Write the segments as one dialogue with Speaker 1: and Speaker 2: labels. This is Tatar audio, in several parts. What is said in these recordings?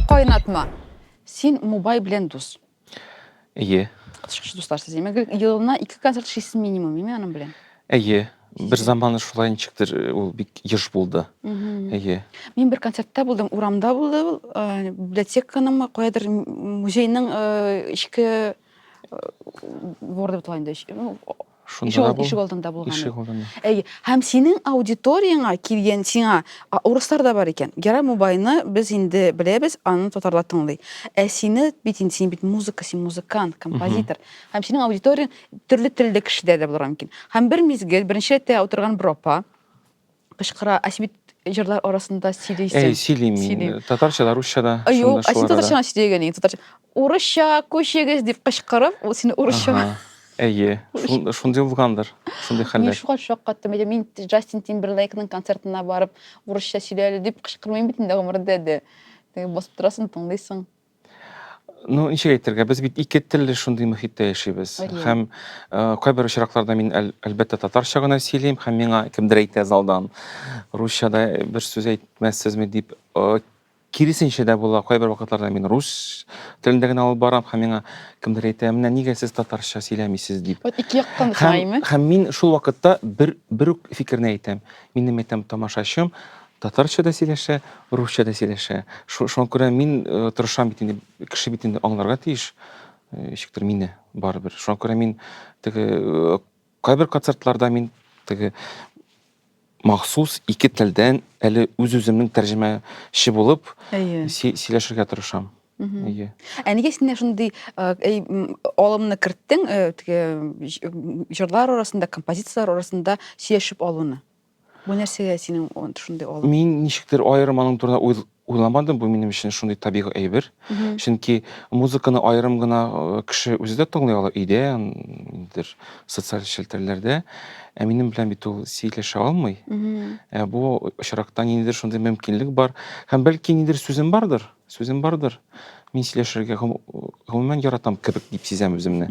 Speaker 1: Кайнатма. Син Мубай белән дус. Әйе. Кытышкыч дуслар сез. Димәк, елына ике концерт шисен минимум, име аның белән? Әйе. Бер заман шулай ничектер э, ул бик еш булды. Әйе. Мин бер концертта булдым, урамда булды ул, э, библиотеканың каядыр музейның э, эчке э, дворы дип атала инде. Эч- ну, Шунда да бул. Ишек алдында булган. Ишек алдында. Әй, һәм синең аудиторияңа килгән сиңа урыслар да бар икән. Гера Мубайны без инде беләбез, аны татарлар тыңлый. Ә сине бит инде син бит музыка, син музыкант, композитор. Һәм синең аудиторияң төрле телдә кешедә дә булырга мөмкин. Һәм бер мизгел беренче рәттә утырган бер апа кычкыра. Ә син бит җырлар арасында сөйлисең. Әй, сөйлим мин. Татарча да, русча да. Юк, ә син татарча гына сөйләгән инде. Татарча. Урысча күчегез дип кычкырып, ул сине урысча. Әйе, шундый булгандыр, шундый хәлләр. Мин шуңа шаккаттым, әйдә, мин Джастин Тимберлейкның концертына барып, урысча сөйләле дип кычкырмыйм бит инде гомердә дә. Басып торасың, тыңлыйсың. Ну, ничек әйтергә, без бит ике телле шундый мөхиттә яшибез. Һәм э, кайбер очракларда мин әл, әлбәттә татарча гына сөйлим, һәм миңа кемдер әйтә залдан, русчада бер сүз әйтмәссезме дип, э, киресенчә дә була, кайбер вакытларда мин рус телендә генә алып барам, һәм миңа кемдер әйтә, менә нигә сез татарча сөйләмисез дип. Вот ике яктан Һәм, һәм мин шул вакытта бер, бер үк фикерне әйтәм. Минем әйтәм тамашачым, Татарча да сөйләшә, русча да сөйләшә. Шуңа күрә мин тырышам бит инде, кеше бит инде аңларга тиеш. Ничектер мине барыбер. Шуңа күрә мин теге кайбер концертларда мин теге махсус ике телдән әле үз-үземнең тәрҗемәче булып сөйләшергә тырышам. Әйе. Ә нигә синдә шундый алымны керттең, теге җырлар арасында, композицияләр арасында сөйләшеп алуны? Бу нәрсәгә синең ан- шундый алып? Мин ничектер аерым аның турында уйл- уйламадым, бу минем өчен шундый табигый әйбер. Мгм. Чөнки музыканы аерым гына э, кеше үзе дә тыңлый ала өйдә, м, дер, социаль челтәрләрдә. Ә минем белән бит ул сөйләшә алмый. Мгм. Ә бу очракта ниндидер шундый мөмкинлек бар. Һәм бәлки ниндидер сүзем бардыр? Сүзем бардыр. Мин сөйләшергә гомумән яратам кебек дип сизәм үземне.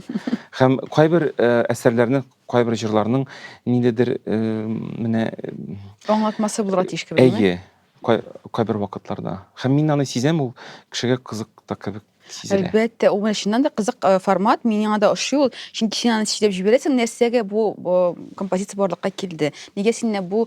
Speaker 1: Һәм кайбер э, әсәрләрнең, кайбер җырларның ниндидер э, менә Аңлатмасы булырга тиеш кебек. әйе, кай- кайбер вакытларда. Һәм мин аны сизәм, ул кешегә кызык та кебек сизелә. Әлбәттә, ул менә чыннан да кызык э, формат, мин яңа да ошый ул. Чөнки син аны сөйләп җибәрәсең, нәрсәгә бу э, композиция барлыкка килде? Нигә сине бу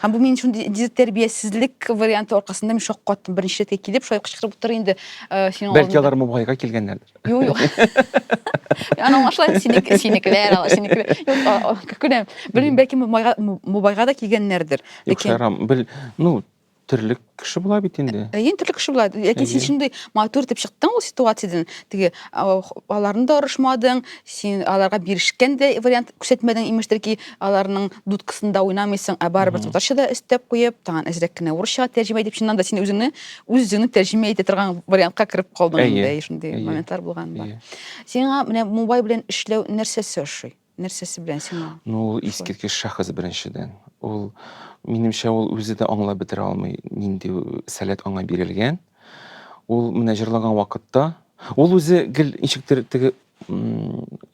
Speaker 1: Һәм бу мин шул тәрбиясезлек варианты аркасында мин шаккаттым. Беренче рәткә килеп, шулай кычкырып утыр инде. Э, синең Бәлки алар Мубайга килгәннәрдер. Юк, юк. Аны аңлашла, синеке, синекеләр, синекеләр. Юк, күрәм. Белмим, бәлки Мубайга да килгәннәрдер. Юк, шарам, бел, ну, Терлек кеше була бит инде. Ә, Ен төрле кеше була. Ләкин син шундый матур итеп чыктың ул ситуациядән. Теге аларны да орышмадың, син аларга бирешкән дә вариант күрсәтмәдең, имештер ки, аларның дудкасында уйнамыйсың, ә барыбер татарча да өстәп куеп, тагын әзрәк кенә урысча тәрҗемә итеп, чыннан да син үзеңне үз җөне тәрҗемә итә торган вариантка кереп калдың инде, шундый моментлар булган бар. Сиңа менә мубай белән эшләү нәрсәсе ошый? Нәрсәсе белән сиңа? Ну, ул искиткеч шәхес беренчедән. Ул, минемчә, ул үзе дә аңлап бетерә алмый, нинди сәләт аңа бирелгән. Ул менә җырлаган вакытта, ул үзе гел ничектер теге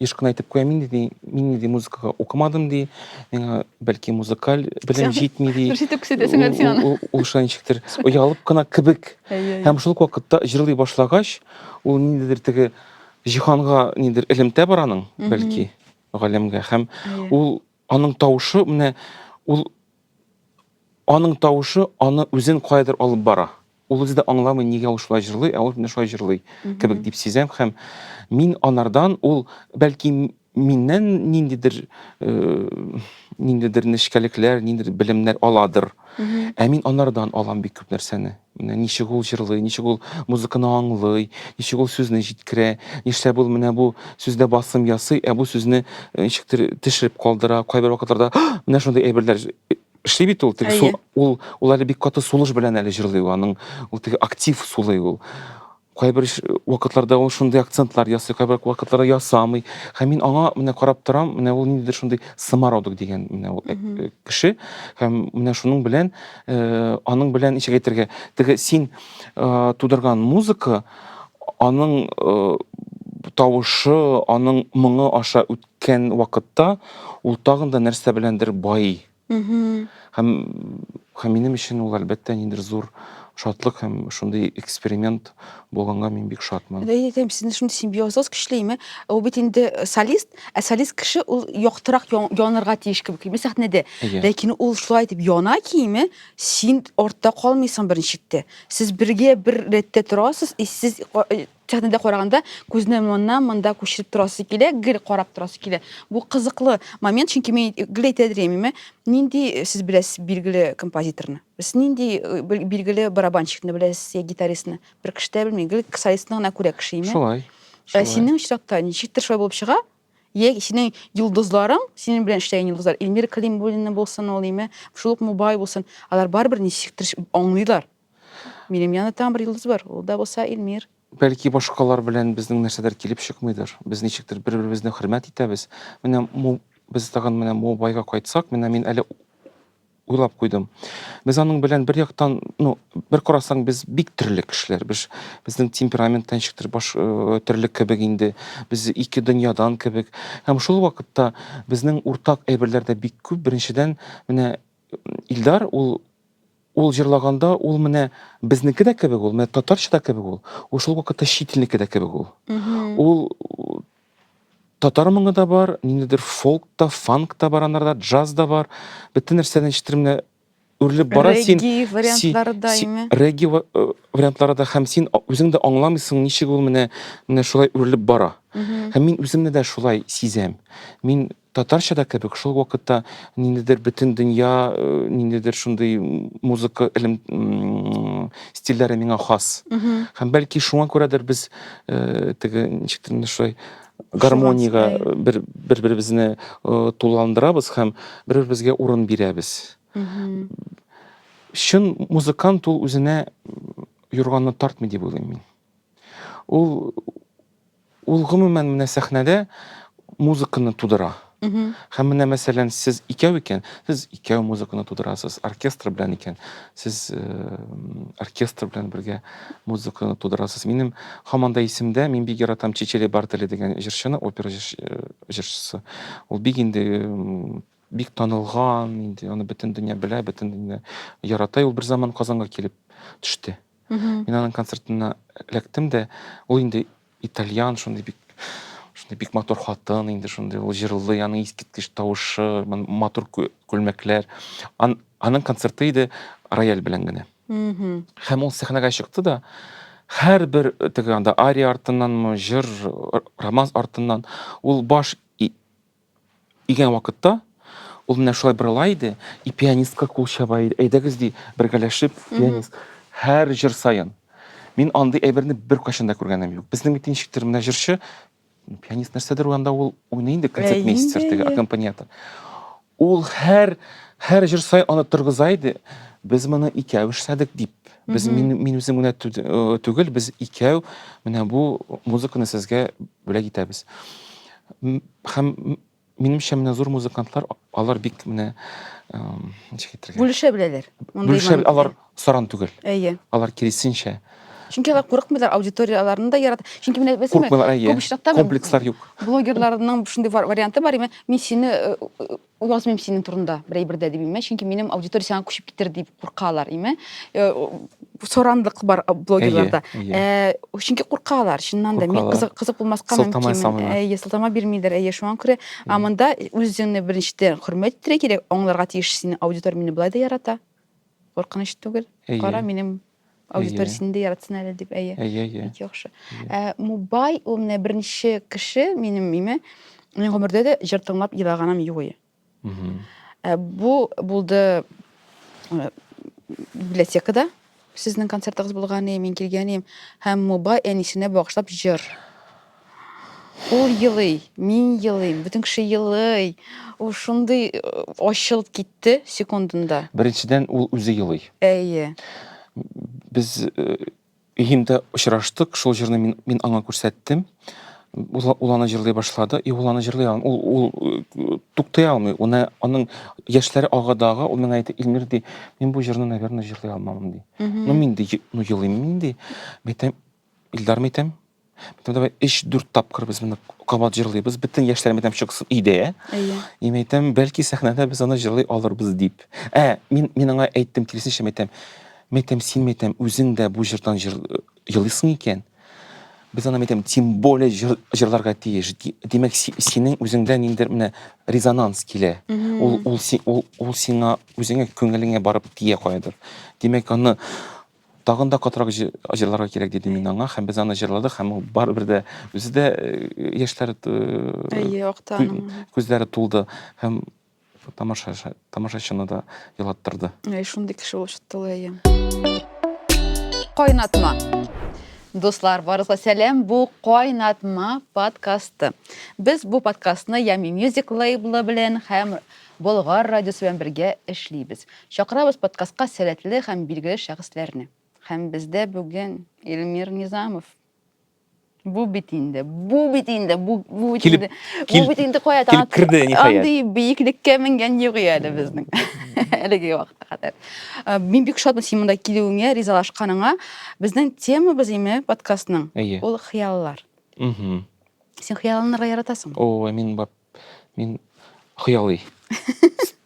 Speaker 1: еш кына әйтеп куя, мин ди, мин ди музыкага укымадым ди, миңа бәлки музыкаль белем җитми ди. Җитеп күрсәтәсең әле сиңа. Ул шулай ничектер оялып кына кебек. Һәм шул вакытта җырлый башлагач, ул ниндидер теге Җиһанга нидер элемтә бар аның, бәлки, галәмгә. Һәм ул аның тавышы менә ул аның тавышы аны үзен каядыр алып бара. Ул үзе дә аңламый, нигә ул шулай җырлый, ә ул менә шулай җырлый кебек дип сизәм һәм мин анардан ул бәлки Миннән ниндидер ниндидер нечкәлекләр, ниндидер белемнәр аладыр. Ә мин анардан алам бик күп нәрсәне. Менә ничек ул җырлый, ничек ул музыканы аңлый, ничек ул сүзне җиткерә, нишләп ул менә бу сүздә басым ясый, ә бу сүзне ничектер тешереп калдыра. Кайбер вакытларда менә шундый әйберләр эшли бит ул. Теге ул ул әле бик каты сулыш белән әле җырлый ул, аның ул теге актив сулый ул. Кайбер вакытларда ул шундый акцентлар ясый, кайбер вакытларда ясамый. Һәм мин аңа менә карап торам, менә ул ниндидер шундый самородок дигән менә ул э, э, кеше. Һәм менә шуның белән, э, аның белән ничек әйтергә, теге син э, тудырган музыка, аның э, тавышы, аның моңы аша үткән вакытта, ул тагын да нәрсә беләндер бай. Һәм һәм минем өчен ул әлбәттә ниндер зур шатлык һәм шундый эксперимент булганга мин бик шатмын. Әйе, әйтәм, сезнең шундый симбиозыгыз көчлеме? Ул бит инде солист, ә солист кеше ул яктырак янырга тиеш кебек килми сәхнәдә. Ләкин ул шулай итеп яна киеме, син артта калмыйсың беренче чиктә. Сез бергә бер рәттә торасыз, и сез Сәхнәдә караганда күзне моннан монда күчереп торасы килә, гел карап торасы килә. Бу кызыклы момент, чөнки мин гел әйтә дремиме, нинди э, сез беләсез билгеле композиторны? Сез нинди э, билгеле барабанщикны беләсез я гитаристны? Бер кеше дә белми, гел солистны гына күрә кеше име? Шулай. Ә синең очракта ничектер шулай булып чыга? Я синең йолдызларың, синең белән эшләгән йолдызлар, Эльмир Калимуллина булсын ул име, шул ук Мубай булсын, алар барыбер ничектер аңлыйлар, Минем янда тагын бер йолдыз бар, ул да булса Илмир. Бәлки башкалар белән безнең нәрсәдер килеп чыкмыйдыр. Без ничектер бер-беребезне хөрмәт итәбез. Менә Му, без тагын менә Мубайга кайтсак, менә мин әле уйлап куйдым. Без аның белән бер яктан, ну, бер карасаң, без бик төрле кешеләр. Без безнең темперамент та ничектер баш э, төрле кебек инде. Без ике дөньядан кебек. Һәм шул вакытта безнең уртак әйберләр дә бик күп. Беренчедән, менә Илдар ул ул җырлаганда ул менә безнеке дә кебек ул, менә татарча да кебек ул. Ул шул вакытта чит илнеке дә кебек ул. Ул татар моңы да бар, ниндидер фолк та, фанк та бар анарда, джаз да бар. Бөтен нәрсә ничектер менә үрелеп бара син. Регги вариантлары да име? Регги э, вариантлары да һәм син үзең дә аңламыйсың, ничек ул менә менә шулай үрелеп бара. Һәм мин үземне дә шулай сизәм. Мин Татарча да кебек, шул вакытта ниндидер бөтен дөнья, ниндидер шундый музыка элем стильләре миңа хас. Һәм бәлки шуңа күрәдер без теге ничектер шулай гармониягә бер бер беребезне тулыландырабыз һәм бер беребезгә урын бирәбез. Чын музыкант ул үзенә юрганны тартмый дип уйлыйм мин. Ул Ул гомумән менә сәхнәдә музыканы тудыра. Һәм менә мәсәлән, сез икәү икән, сез икәү музыканы тудырасыз, оркестр белән икән, сез оркестр белән бергә музыканы тудырасыз. Минем һаман да исемдә, мин бик яратам Чичели Бартели дигән җырчыны, опера җырчысы. Ул бик инде бик танылган, инде аны бөтен дөнья белә, бөтен дөнья ярата. Ул бер заман Казанга килеп төште. Мин аның концертына эләктем дә, ул инде итальян, шундый бик шундый бик матур хатын инде шундый ул җырлый аның искиткеч тавышы матур күлмәкләр Ан, аның концерты иде рояль белән генә һәм ул сәхнәгә чыкты да һәрбер теге анда ария артыннанмы җыр романс артыннан ул баш Дигән вакытта ул менә шулай борыла иде, и пианистка кул чаба иде. Әйдәгез ди, бергәләшеп пианист. Һәр җыр саен. Мин андый әйберне бер кайчан да күргәнем юк. Безнең бит ничектер менә җырчы пианист нәрсәдер анда ул уйный инде концертмейстер теге аккомпаниатор. Ул һәр һәр җыр саен аны торгыза иде. Без моны икәү эшләдек дип. Без мин мин үзем генә түгел, без икәү менә бу музыканы сезгә бүләк итәбез. Һәм минемчә менә зур музыкантлар алар бик менә ничек әйтергә? Бүлешә беләләр. Бүлешә алар саран түгел. Әйе. Алар киресенчә. Чөнки алар курыкмыйлар, аудиторияләрен дә ярата. Чөнки менә беләсеңме? Күп очракта комплекслар юк. Блогерларның шундый варианты бар, мин сине Уйласмыйм синең турында бер әйбер дә дип име, чөнки минем аудитория сиңа күчеп китер дип куркалар име. Э, Соранлык бар блогерларда. Әйе, әйе. Э, Чөнки куркалар, чыннан да. Мин Куркалар. кызык кызык булмаска Сылтама мөмкин. ясамыйлар. Әйе, сылтама бирмиләр. Әйе, шуңа күрә а монда үзеңне беренчедән хөрмәт итәргә кирәк, аңларга тиеш сине аудитория мине болай да ярата. Куркыныч түгел. Әйе. Кара, минем Аудиториясен дә яратсын әле дип, әйе. Әйе, әйе. Бик яхшы. Ә Мубай ул менә беренче кеше минем име. Мин гомердә дә җыр тыңлап елаганым юк иде. Ә бу булды библиотекада сезнең концертыгыз булган иде, мин килгән идем һәм Мубай әнисенә багышлап җыр. Ул елый, мин елыйм, бөтен кеше елый. Ул шундый э, ачылып китте секундында. Беренчедән, ул үзе елый. Әйе. Без э, өемдә очраштык, шул җырны мин, мин аңа күрсәттем. Ул, ул аны җырлый башлады, и ул аны җырлый алмый. Ул, ул э, туктый алмый. Уны, аның яшьләре агадага, ул миңа әйтә, Илмир ди, мин бу җырны, наверное, җырлый алмам ди. Ну мин ди, ну елыйм мин ди. Мәйтәм, Илдар Митем. Митем давай 3-4 тапкыр без моны кабат җырлыйбыз. Бөтен яшьләребез һәм чыксын иде. Әйе. Мин әйтәм, бәлки сәхнәдә без аны җырлый алырбыз дип. Ә, мин мин аңа әйттем, киресенчә мәйтәм. Мәйтәм, син мәйтәм, үзең дә бу җырдан җырлыйсың икән. Без аны мәйтәм, тем более җыр, җырларга тиеш. Димәк, си, синең үзеңдә ниндер менә резонанс килә. Ул ул ул, ул сиңа үзеңә күңелеңә барып тия каядыр. Димәк, аны Тагын да катырак җырларга кирәк, дидем мин аңа, һәм без аны җырладык, һәм ул барыбер дә үзе дә яшьләр Әйе, акты аның. Күзләре тулды һәм тамаша тамашачыны да елаттырды. Әй, шундый кеше булып чыкты ул, әйе. Кайнатма. Дуслар, барыгызга сәлам. Бу Кайнатма подкасты. Без бу подкастны Ями Music лейблы белән һәм Болгар радиосы белән бергә эшлибез. Чакырабыз подкастка сәләтле һәм билгеле шәхесләрне. Һәм бездә бүген Илмир Низамов. Бу бит инде, бу бит инде, бу, бу бит Килеп- инде, кил- бу бит инде кая килеп танат- керде, ниһаять. Андый биеклеккә менгән юк иде әле безнең. Әлеге вакытка кадәр. Э, Мин бик шатмын син монда килүеңә, ризалашканыңа. Безнең темабыз име подкастның? Әйе. Ул хыяллар. Мгм. Син хыялланырга яратасың. О, мин бар. Мин хыялый.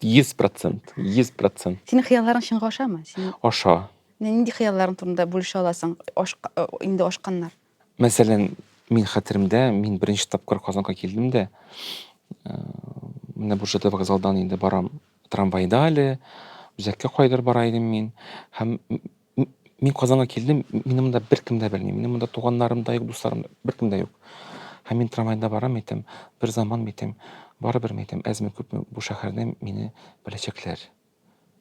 Speaker 1: 100%, 100%. Синең хыялларың чынга ашамы? Син... Аша. Нинди хыялларың турында бүлешә аласың? Аш... Э, инде ашканнар. Мәсәлән, мин хәтеремдә, мин беренче тапкыр Казанга килдем дә, э, менә Буржада вокзалдан инде барам трамвайда әле, үзәккә кайдыр бара идем мин, һәм Мин Казанга килдем, мине монда беркем дә белми. Минем монда туганнарым да юк, дусларым да, беркем дә юк. Һәм мин трамвайда барам әйтәм, бер заман әйтәм, барыбер әйтәм, әзме күпме бу шәһәрдә мине беләчәкләр.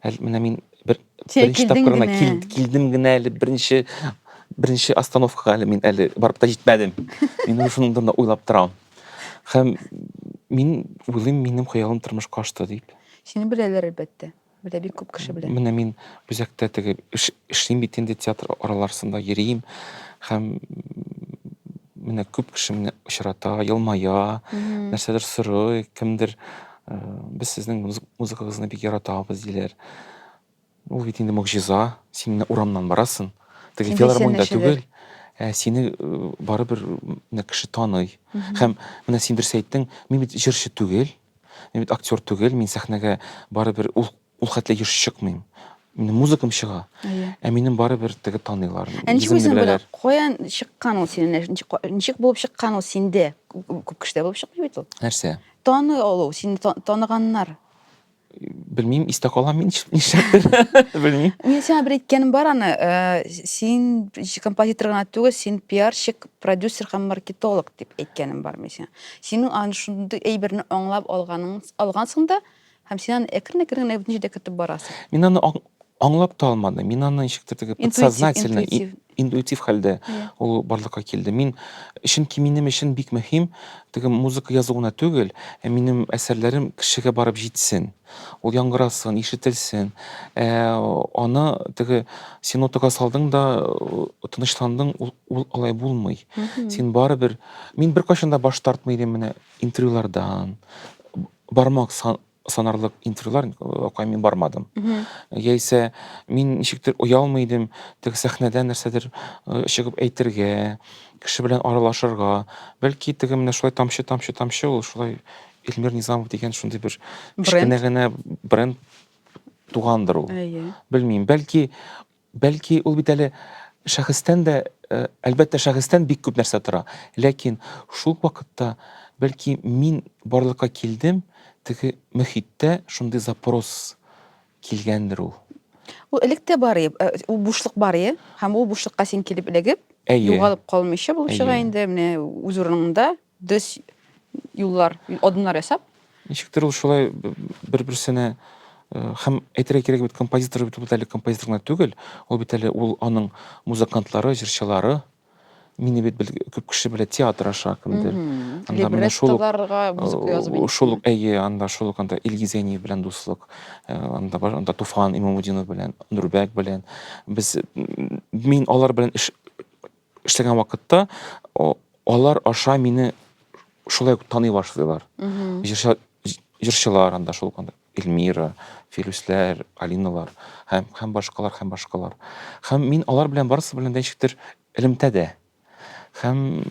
Speaker 1: Әле менә мин бер беренче тапкырына кил, килдем генә әле беренче беренче остановкага әле мин әле барып та җитмәдем. Мин уже шуның турында уйлап торам. Һәм мин уйлыйм, минем хыялым тормышка ашты дип. Сине беләләр әлбәттә. Белә бик күп кеше белә. Менә мин үзәктә теге эшлим бит инде театр араларсында йөрим һәм менә күп кеше менә очрата, елмая, нәрсәдер сорый, кемдер э, без сезнең музыкагызны бик яратабыз диләр. Ул бит инде могҗиза. Син менә урамнан барасың, теге филармониядә түгел, ә сине э, барыбер менә кеше таный. Һәм менә син дөрес әйттең, мин бит җырчы түгел. Мин бит актер түгел, мин сәхнәгә барыбер ул ул хәтле еш чыкмыйм. Минем музыкам чыга. Әйе. Ә минем барыбер теге таныйлар. Ә ничек үзең белә? Каян чыккан ул синең? Ничек булып чыккан ул синде? Күп кешедә булып чыкмый бит ул. Нәрсә? Таны алу, сине таныганнар. Белмим, истә калам мин нишләптер. Белмим. Мин сиңа бер әйткәнем бар аны, син композитор гына түгел, син пиарщик, Продюсер һәм маркетолог дип әйткәнем бар мин сиңа. Синең аны шундый әйберне аңлап алганың, алгансың да, һәм син аны әкрен-әкрен генә бөтен җирдә кертеп барасың. Мин аны аңлап та алмадым. Мин аны ничектер теге подсознательно, интуитив, интуитив хәлдә yeah. ул барлыкка килде. Мин чөнки минем өчен бик мөһим теге музыка язу гына түгел, ә минем әсәрләрем кешегә барып җитсен. Ул яңгырасын, ишетелсен. Ә, аны теге син отыга салдың да тынычландың, ул Ул алай булмый. Син барыбер, мин беркайчан да баш тартмый идем менә интервьюлардан. Бармак санарлык интервьюлар акай мин бармадым яисә мин ничектер оялмый идем теге сәхнәдә нәрсәдер э, чыгып әйтергә кеше белән аралашырга бәлки теге менә шулай тамчы тамчы тамчы ул шулай эльмир низамов дигән шундый бер кечкенә генә бренд тугандыр ул әйе белмим бәлки Бәлки, ул бит әле шәхестән дә, әлбәттә, шәхестән бик күп нәрсә тора. Ләкин шул ук вакытта, бәлки, мин барлыкка килдем, теге мөхиттә шундый запрос килгәндер ул. Ул элек тә бар иде, ул бушлык бар иде, һәм ул бушлыкка син килеп эләгеп, югалып калмыйча булып чыга инде, менә үз урыныңда, Дөрес юллар, адымнар ясап. Ничектер ул шулай бер-берсенә һәм әйтергә кирәк бит композитор бит бит әле композитор гына түгел, ул бит әле ул аның музыкантлары, җырчылары. Мине бит күп кеше белә театр аша кемдер. Анда менә шул шул әйе, анда шул ук анда Илгиз Әниев белән дуслык, анда бар, анда Туфан Имамудинов белән, Нурбәк белән. Без мин алар белән эш эшләгән вакытта алар аша мине шулай ук таный башлыйлар. Җырчылар анда шул анда Эльмира, Филүсләр, Алиналар һәм һәм башкалар һәм башкалар. Һәм мин алар белән барысы белән дә ничектер элемтәдә. Һәм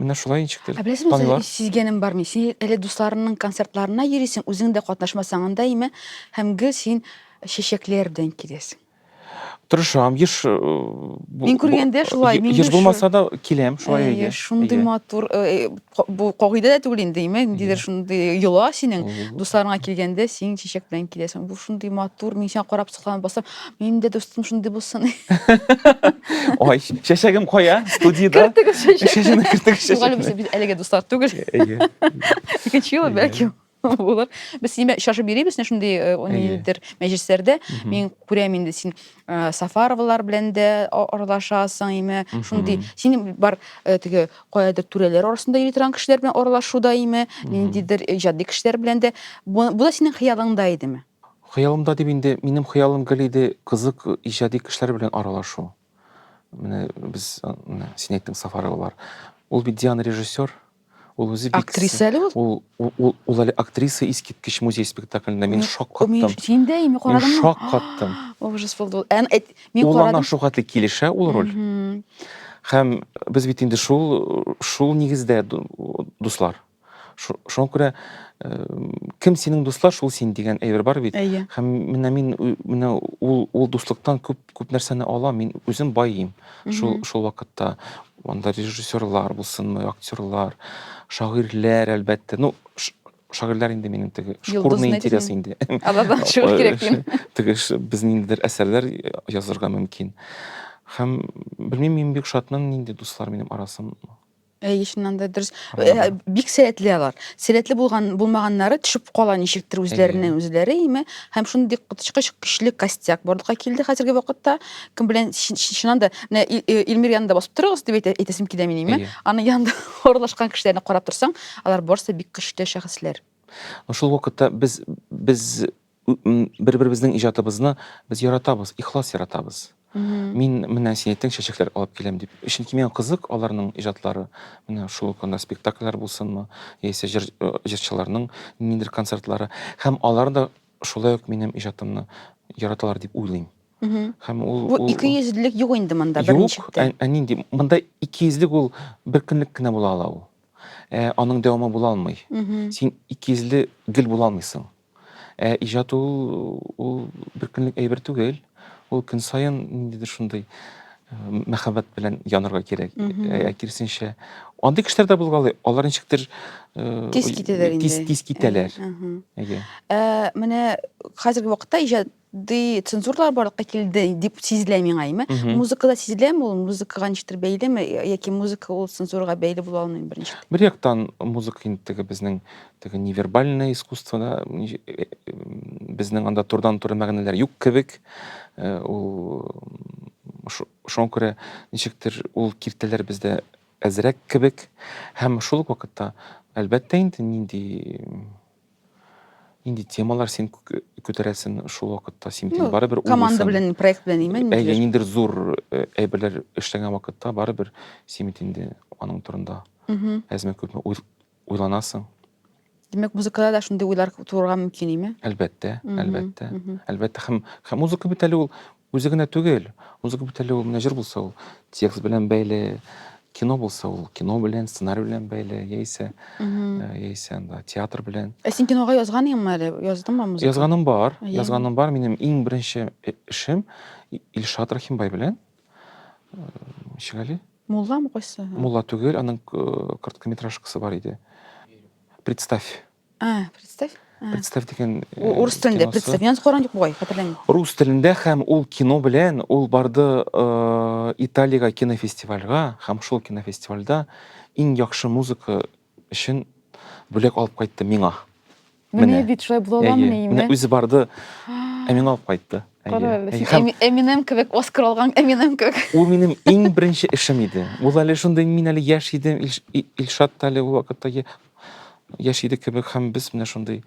Speaker 1: менә шулай ничектер. Ә беләсең, мин сизгәнем бар мин. Син әле дусларыңның концертларына йөрисең, үзең дә катнашмасаң анда имә, һәм гел син чәчәкләр белән киләсең. Тырышам, еш э, бу- Мин күргәндә бу- шулай, е- мин еш дә булмаса да киләм шулай Әйе, әйдә. шундый Әйдә. матур. э, э, ка- Бу кагыйдә дә түгел инде, имә, ниндидер Әйе. шундый йола синең. Мгм. Дусларыңа килгәндә син чәчәк белән киләсең. Бу шундый матур, мин сиңа карап сокланып басам. Минем дә дустым шундый булсын. Ай, чәчәгем кая? Студиядә. Кертегез чәчәк. Чәчәгемне кертегез Юк, әле без чәчәкне. без әлегә дуслар түгел. Әйе. Икенче юлы Әйе. бәлки. булыр без сине очрашып йөрибез менә шундый э, ниндидер мәҗлесләрдә мин күрәм инде син э, сафаровалар белән дә аралашасың име шундый син бар э, теге каядыр түрәләр арасында йөри торган кешеләр белән аралашуда име ниндидер иҗади кешеләр белән дә бу да синең хыялыңда идеме хыялымда дип инде минем хыялым гел иде кызык иҗади кешеләр белән аралашу менә без син әйттең сафаровалар ул бит диана режиссер Ул үзе бик... Актриса әле ул? Ул, ул, ул, ул әле актриса искиткеч музей спектаклендә. Мин шок каттым. Син дә име карадың? Мин шок каттым. Ужас булды. Ән, әт, мин ул ана шул хәтле килешә ул роль. Һәм без бит инде шул, шул нигездә дуслар. Шуңа күрә кем синең дуслар, шул син дигән әйбер бар бит. Әйе. Һәм менә мин менә ул ул дуслыктан күп Күп нәрсәне алам, мин үзем баем шул, шул вакытта. Анда режиссерлар булсынмы, актерлар, шагыйрьләр, әлбәттә. Ну, шагыйрьләр инде минем теге шкурный интерес инде. Алардан чыгу кирәк дим. Теге безнең ниндидер әсәрләр язырга мөмкин. Һәм белмим, мин бик шатмын, нинди дуслар минем арасым. Әйе, чыннан да дөрес. Ә, Бик сәләтле алар. Сәләтле булган булмаганнары төшеп кала ничектер үзләреннән үзләре име. Һәм шундый коточкыч көчле костяк барлыкка килде хәзерге вакытта. Кем белән чи- чи- чыннан да менә Ил- э, Илмир янында басып торыгыз дип әйтә- әйтәсем килә мин име. Әйе. Аның янында аралашкан кешеләрне карап торсаң, алар барысы да бик көчле шәхесләр. Шул вакытта без без Бер-беребезнең иҗатыбызны без яратабыз, ихлас яратабыз. Мин менә син әйттең, чәчәкләр алып киләм дип. Чөнки миңа кызык аларның иҗатлары. Менә шул ук анда спектакльләр булсынмы, яисә җыр, э, җырчыларның ниндидер концертлары. Һәм алар да шулай ук минем иҗатымны яраталар дип уйлыйм. Һәм ул Бу ул- икейөзлелек юк инде монда Юк, берничектә. ә, ә нинди? Монда икейөзлек ул бер көнлек кенә була ала ул. Ә, аның дәвамы була алмый. Син икейөзле гел була алмыйсың. Ә иҗат ул, ул бер көнлек әйбер түгел. Ул көн саен ниндидер шундый мәхәббәт белән янарга кирәк. Ә киресенчә, андый кешеләр дә булгалый. Алар ничектер тиз китәләр инде. Тиз тиз китәләр. Әйе. Ә менә хәзерге вакытта иҗат ди цензурлар барлыкка килде дип сизелә миңа име музыкада сизеләме ул музыкага ничектер бәйлеме яки музыка ул цензурага бәйле була алмыйм беренче бер яктан музыка инде теге безнең теге невербальное искусствода э, безнең анда турдан туры мәгънәләр юк кебек э, ул шуңа күрә ничектер ул киртәләр бездә әзрәк кебек һәм шул ук вакытта әлбәттә инде нинди Инде темалар син күтәрәсең шул вакытта, син ну, барыбер уйлыйсың. Команда белән, проект белән имен. Әйе, инде зур э, әйберләр эшләгән вакытта барыбер син бит инде аның турында. Әзме күпме уйланасың. Димәк, музыкада да шундый уйлар тууырга мөмкин име? Әлбәттә, әлбәттә. Әлбәттә, һәм һәм музыка бит әле ул Үзе генә түгел, узып бит әле ул менә җыр булса ул текст белән бәйле, кино булса ул кино белән, сценарий белән бәйле, яисә яисә анда театр белән. Ә син кинога язганыйңмы әле? Яздыңмы музыка? Язганым бар, язганым бар. Минем иң беренче эшем Илшат Рахимбай белән. Ничек әле? Мулламы кайсы? Мулла түгел, аның короткометражкасы бар иде. Представь. А, представь. А. Представь дигән э, Урыс телендә киносы. представь. Мин каран юк бугай, хәтерләмим. Рус телендә һәм ул кино белән ул барды э, Италиягә кинофестивальгә һәм шул кинофестивальдә иң яхшы музыка өчен бүләк алып кайтты миңа. Менә Менә. бит шулай була Әйе. аламыни Менә инде. үзе барды, ә миңа алып кайтты. Әйе. Кара әле, Әйе. син Һәм Эми- Эминем кебек Оскар алган Эминем кебек. Ул минем иң беренче эшем иде. Ул әле шундый мин әле яшь идем, Ильш- И- Илшат та әле ул вакытта е- Яшь идек кебек һәм без менә шундый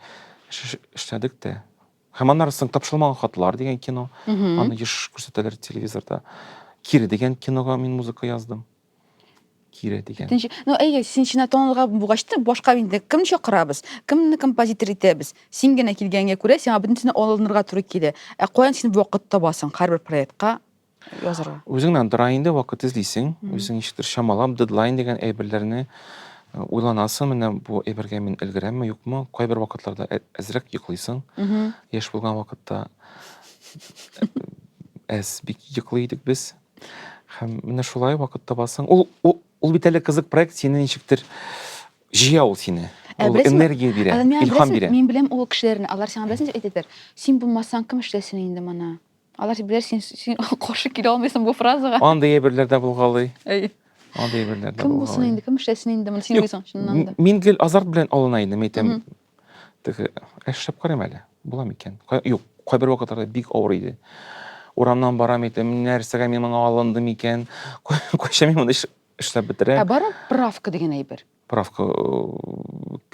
Speaker 1: эшләдек тә. Һәм аннары соң тапшырылмаган хатлар дигән кино. Аны еш күрсәтәләр телевизорда. Кире дигән кинога мин музыка яздым. Кире дигән. Икенче, ну әйе, син чинә тонлыга булгач та башка инде кем чакырабыз? Кемне композитор итәбез? Син генә килгәнгә күрә, сиңа бөтенесенә алынырга туры килә. Ә каян син вакыт табасың һәрбер проектка язарга? Үзең генә дыра инде, вакыт эзлисең, үзең ничектер чамалап, дедлайн дигән әйберләрне э, уйланасың, менә бу әйбергә мин өлгерәмме, юкмы, кайбер вакытларда ә- әзрәк йоклыйсың, яшь булган вакытта әз бик йоклый идек без. Һәм менә шулай вакыт табасың. Ул, ул, ул бит әле кызык проект, сине ничектер җыя ул сине. Ә Ул беләсеңме, энергия бирә, Ә, миңа илһам беләсең- бирә. Мин беләм ул кешеләрне, алар сиңа беләсең дип әйтәдер. Син булмасаң, кем эшләсен инде моны? Алар сибләр син син каршы килә алмыйсың бу фразага. Андый әйберләр дә булгалый. Әй. Андый әйберләр дә булгалый. Кем булсын инде, кем эшләсен инде, моны син уйсаң чыннан да. Мин гел азарт белән алына идем, әйтәм. Теге эшләп карыйм әле. Була микән? Юк, кайбер вакытларда бик авыр иде. Урамнан барам әйтәм, нәрсәгә мин моңа алындым икән? Кайчан мин моны эшләп бетерәм? Ә бармы правка дигән әйбер? Правка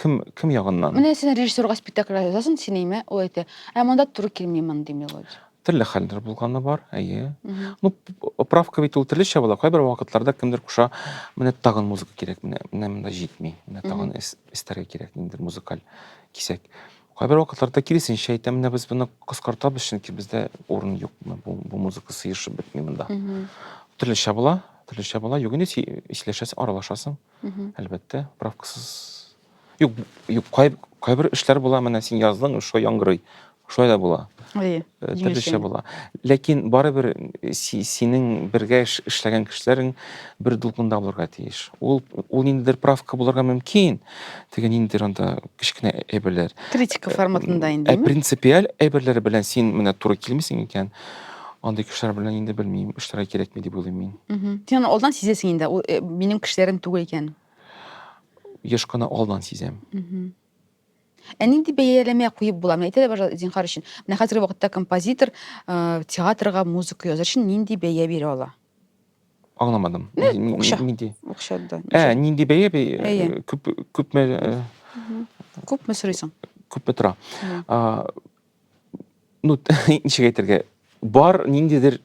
Speaker 1: кем кем ягыннан? Менә син режиссерга спектакль язасың, син әйме, ул әйтә, ә монда туры килми мондый мелодия. Төрле хәлләр булганы бар, әйе. Ну, правка бит ул төрлечә була, кайбер вакытларда кемдер куша, менә тагын музыка кирәк, менә менә монда җитми, менә тагын эстәргә кирәк ниндидер музыкаль кисәк. Кайбер вакытларда киресенчә әйтә, менә без моны кыскартабыз, чөнки бездә урын юк, бу, бу музыка сыешып бетми монда. Төрлечә була, төрлечә була, юк инде сөйләшәсең, аралашасың. әлбәттә правкасыз юк юк кайбер эшләр була менә син яздың шулай яңгырый шулай да була э, төрлечә була ләкин барыбер э, синең бергә эшләгән кешеләрең бер дулкында булырга тиеш ул ул ниндидер правка булырга мөмкин теге ниндидер анда кечкенә әйберләр критика форматында э, инде принципиаль әйберләр белән син менә туры килмисең икән Андый кешеләр белән инде белмим, эшләргә кирәкми дип уйлыйм мин. Син аны алдан сизәсең инде, ул э, минем кешеләрем түгел икән. Еш кына алдан сизәм. Ә нинди бәяләмә куеп була? Менә әйтелә башлады зинхар өчен. Менә хәзерге вакытта композитор э, театрга музыка язар өчен нинди бәя бирә ала? Аңламадым. Э, Ни- ни- акча. Нинди? Акча да. Ә, нинди бәя бе- э, Әйе. күп күпме э, Күпме сорыйсың? күпме тора? Мгм. А, ну ничек әйтергә бар ниндидер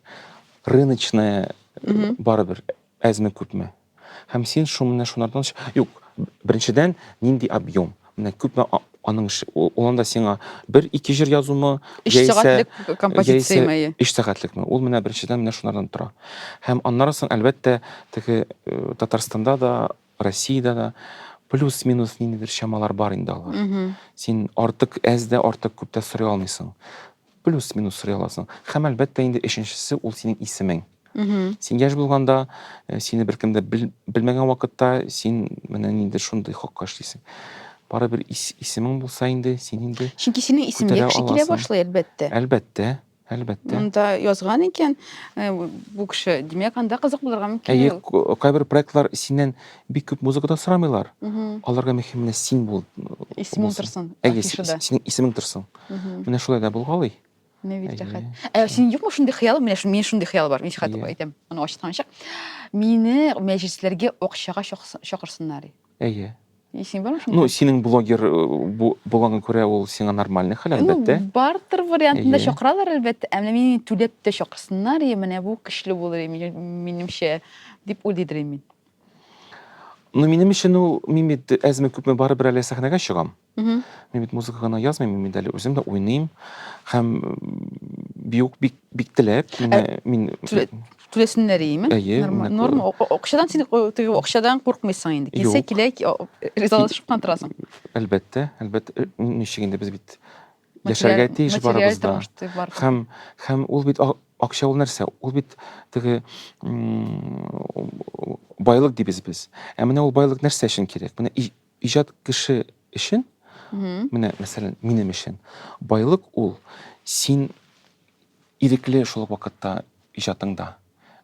Speaker 1: рыночная э, барыбер әзме күпме һәм син шу менә шунардан юк беренчедән нинди объем менә күпме аның ул анда сиңа бер ике җыр язумы өч сәгатьлек композицияме өч сәгатьлекме ул менә беренчедән менә шунардан тора һәм аннан соң әлбәттә теге э, татарстанда да Россиядә дә плюс-минус ниндидер чамалар бар инде алар. Син артык әз дә, артык күп тә сорый алмыйсың. Плюс-минус сорый аласың. Һәм әлбәттә инде өченчесе ул синең исемең. Син яшь булганда, э, сине беркем дә бел, белмәгән вакытта син менә нинди шундый хакка эшлисең. Барыбер ис, исемең булса инде, син инде Чөнки синең исемең күтәрә яхшы килә аласың. башлый, әлбәттә. Әлбәттә, Әлбәттә. Монда язган икән э, бу кеше, димәк, анда кызык булырга мөмкин. Әйе, ул. кайбер проектлар синнән бик күп музыка да сорамыйлар. Аларга мөһим менә син бул. Исемең торсын. Әйе, синең исемең торсын. Менә шулай да булгалый. Менә бит рәхәт. Ә синең юкмы шундый хыялың? Менә шундый, минем шундый хыял бар. Мин хат әйтәм, аны ачтан ачык. Мине мәҗлесләргә акчага чакырсыннар. Әйе. И син бармы шунда? Ну, синең блогер э, бу булганга күрә ул сиңа нормальный хәл, Ну, әлбәттә. бартер вариантында Әйе. чакыралар, әлбәттә. Ә менә мине түләп тә чакырсыннар, и менә бу көчле булыр, и мин- минемчә, дип уйлыйдыр и мин. Ну, минем өчен ул, мин бит әзме-күпме барыбер әле сәхнәгә чыгам. Мин бит музыка гына язмыйм, мин дәле үзем дә уйныйм. Хәм бию бик бик теләп, э, мин түләсеннәр иеме? Әйе, норм. Акчадан син теге акчадан куркмыйсың инде. Килсә килә, ризалашып кына торасың. Әлбәттә, әлбәттә, э, ничек инде без бит яшәргә тиеш барыбызда. Хәм хәм ул бит акча ул нәрсә? Ул бит теге байлык дибез без. Ә менә ул байлык нәрсә өчен кирәк? Менә Иҗат кеше өчен, менә, мәсәлән, минем өчен байлык ул, син ирекле шул ук вакытта иҗатыңда.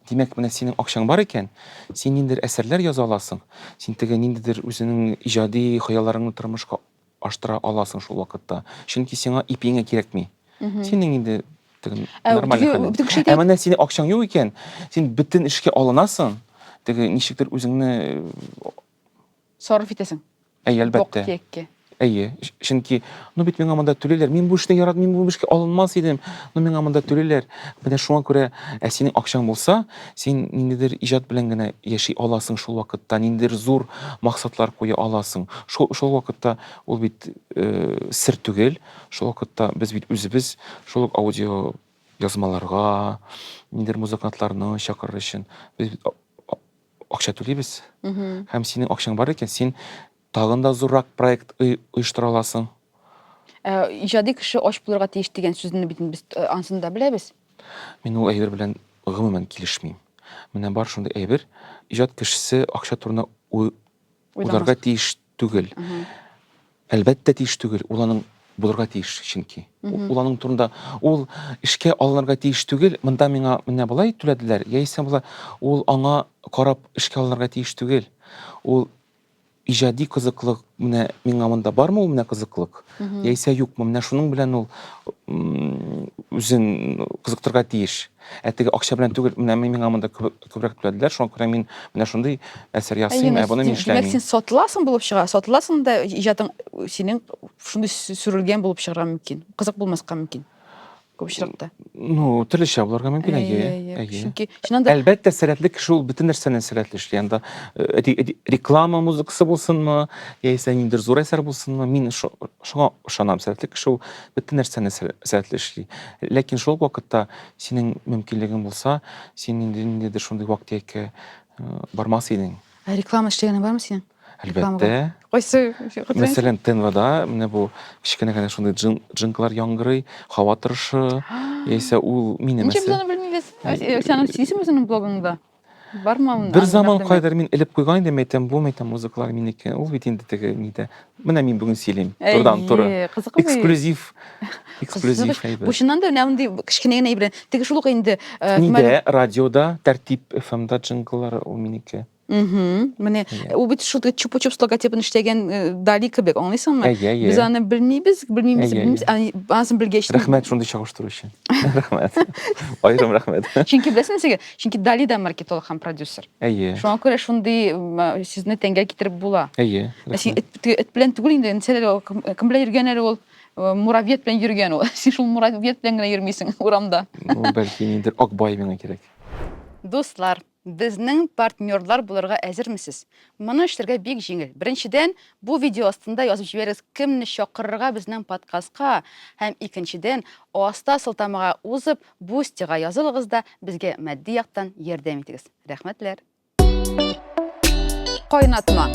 Speaker 1: Димәк, менә синең акчаң бар икән, син ниндидер әсәрләр яза аласың, син теге ниндидер үзеңнең иҗади хыялларыңны тормышка аштыра аласың шул вакытта. Чөнки сиңа ипиңә кирәкми. Синең инде теге Ә, нормаль теге- хәлең. теге шәйтән- Ә менә синең акчаң юк икән, син бөтен эшкә алынасың, теге ничектер үзеңне э, Сарыф итәсең. Әйе, әлбәттә. Бок-киеккә. Әйе, чөнки, ну бит миңа монда түлиләр. Мин бу эшне яратмыйм, мин бу эшкә алынмас идем. Ну миңа монда түлиләр. Менә шуңа күрә, ә синең акчаң булса, син ниндидер иҗат белән генә яши аласың шул вакытта, ниндидер зур максатлар куя аласың. Шул шул вакытта ул бит э, сер түгел. Шул вакытта без бит үзебез шул ук аудио язмаларга, ниндидер музыкантларны чакырыр өчен без бит акча түлибез. Һәм синең акчаң бар икән, син тагын да зуррак проект оештыра аласың. Ә, иҗади кеше ач булырга тиеш дигән сүзне бит без э, ансын да беләбез. Мин ул әйбер белән гомумән килешмим. Менә бар шундый әйбер, иҗат кешесе акча турында уйларга тиеш Түгел. Әлбәттә тиеш түгел, ул аның булырга тиеш чөнки. Ул аның турында ул эшкә алынырга тиеш түгел, монда миңа менә болай түләделәр, яисә болай ул аңа карап эшкә алынырга тиеш түгел. Ул иҗади кызыклык менә миңа монда бармы ул менә кызыклык, яисә юкмы, менә шуның белән ул үзен кызыктырырга тиеш. Ә теге акча белән түгел, менә миңа монда күбрәк түләделәр, шуңа күрә мин менә шундый әсәр ясыйм, ә буны мин эшләмим. Димәк, син сатыласың булып чыга, сатыласың да иҗатың синең шундый сүрелгән булып чыгарга мөмкин. Кызык булмаска мөмкин. Күп очракта. Ну, төрлечә булырга мөмкин, әйе. Әйе. Чөнки чыннан да Әлбәттә, сәләтле кеше ул бөтен нәрсәне сәләтле эшли. Анда э, реклама музыкасы булсынмы, яисә ниндидер зур әсәр булсынмы, мин шуңа ышанам. Сәләтле кеше ул бөтен нәрсәне сәләтле эшли. Ләкин шул ук вакытта синең мөмкинлегең булса, син инде ниндидер шундый вак-төяккә бармас идең. Ә реклама эшләгәнең бармы синең? Әлбәттә. Кайсы? Мәсәлән, ТНВда менә бу кечкенә генә шундый джин, джинклар яңгырый, һава торышы, яисә ул минем Ничек без аны белмибез? Син аны сөйлисеңме үзеңнең блогыңда? Бармы аны? Бер заман кайдыр мин элеп куйган идем, әйтәм, бу мәйтәм музыкалар минеке. Ул бит инде теге нидә. Менә мин бүген сөйлим. Турдан туры. Эксклюзив. Эксклюзив әйбер. Бу чыннан да менә мондый кечкенә генә әйбер. Теге шул ук инде. Э, нидә радиода, тәртип FM-да джингллары ул минеке. Угу. Менә ул бит шул чупа-чупс логотипын эшләгән э, Дали кебек, аңлыйсыңмы? Без аны белмибез, белмибез, белмибез, анысын белгәч. Рәхмәт шундый чагыштыру өчен. Рәхмәт. Аерым рәхмәт. Чөнки беләсеңме сезгә, Чөнки Дали да маркетолог һәм продюсер. Әйе. Шуңа күрә шундый сүзне тәнгә китереп була. Әйе. Ә син эт белән түгел инде, кем белән йөргән әле ул? Э, муравьед белән йөргән ул. Син шул муравьед белән генә йөрмисең урамда. Ну, бәлки нидер Акбай миңа кирәк. Дуслар, безнең партнерлар булырга әзермесез? Моны эшләргә бик җиңел. Беренчедән, бу видео астында язып җибәрегез, кемне чакырырга безнең подкастка, һәм икенчедән, аста сылтамага узып, Бу стига язылыгыз да безгә матди яктан ярдәм итегез. Рәхмәтләр. Кайнатма.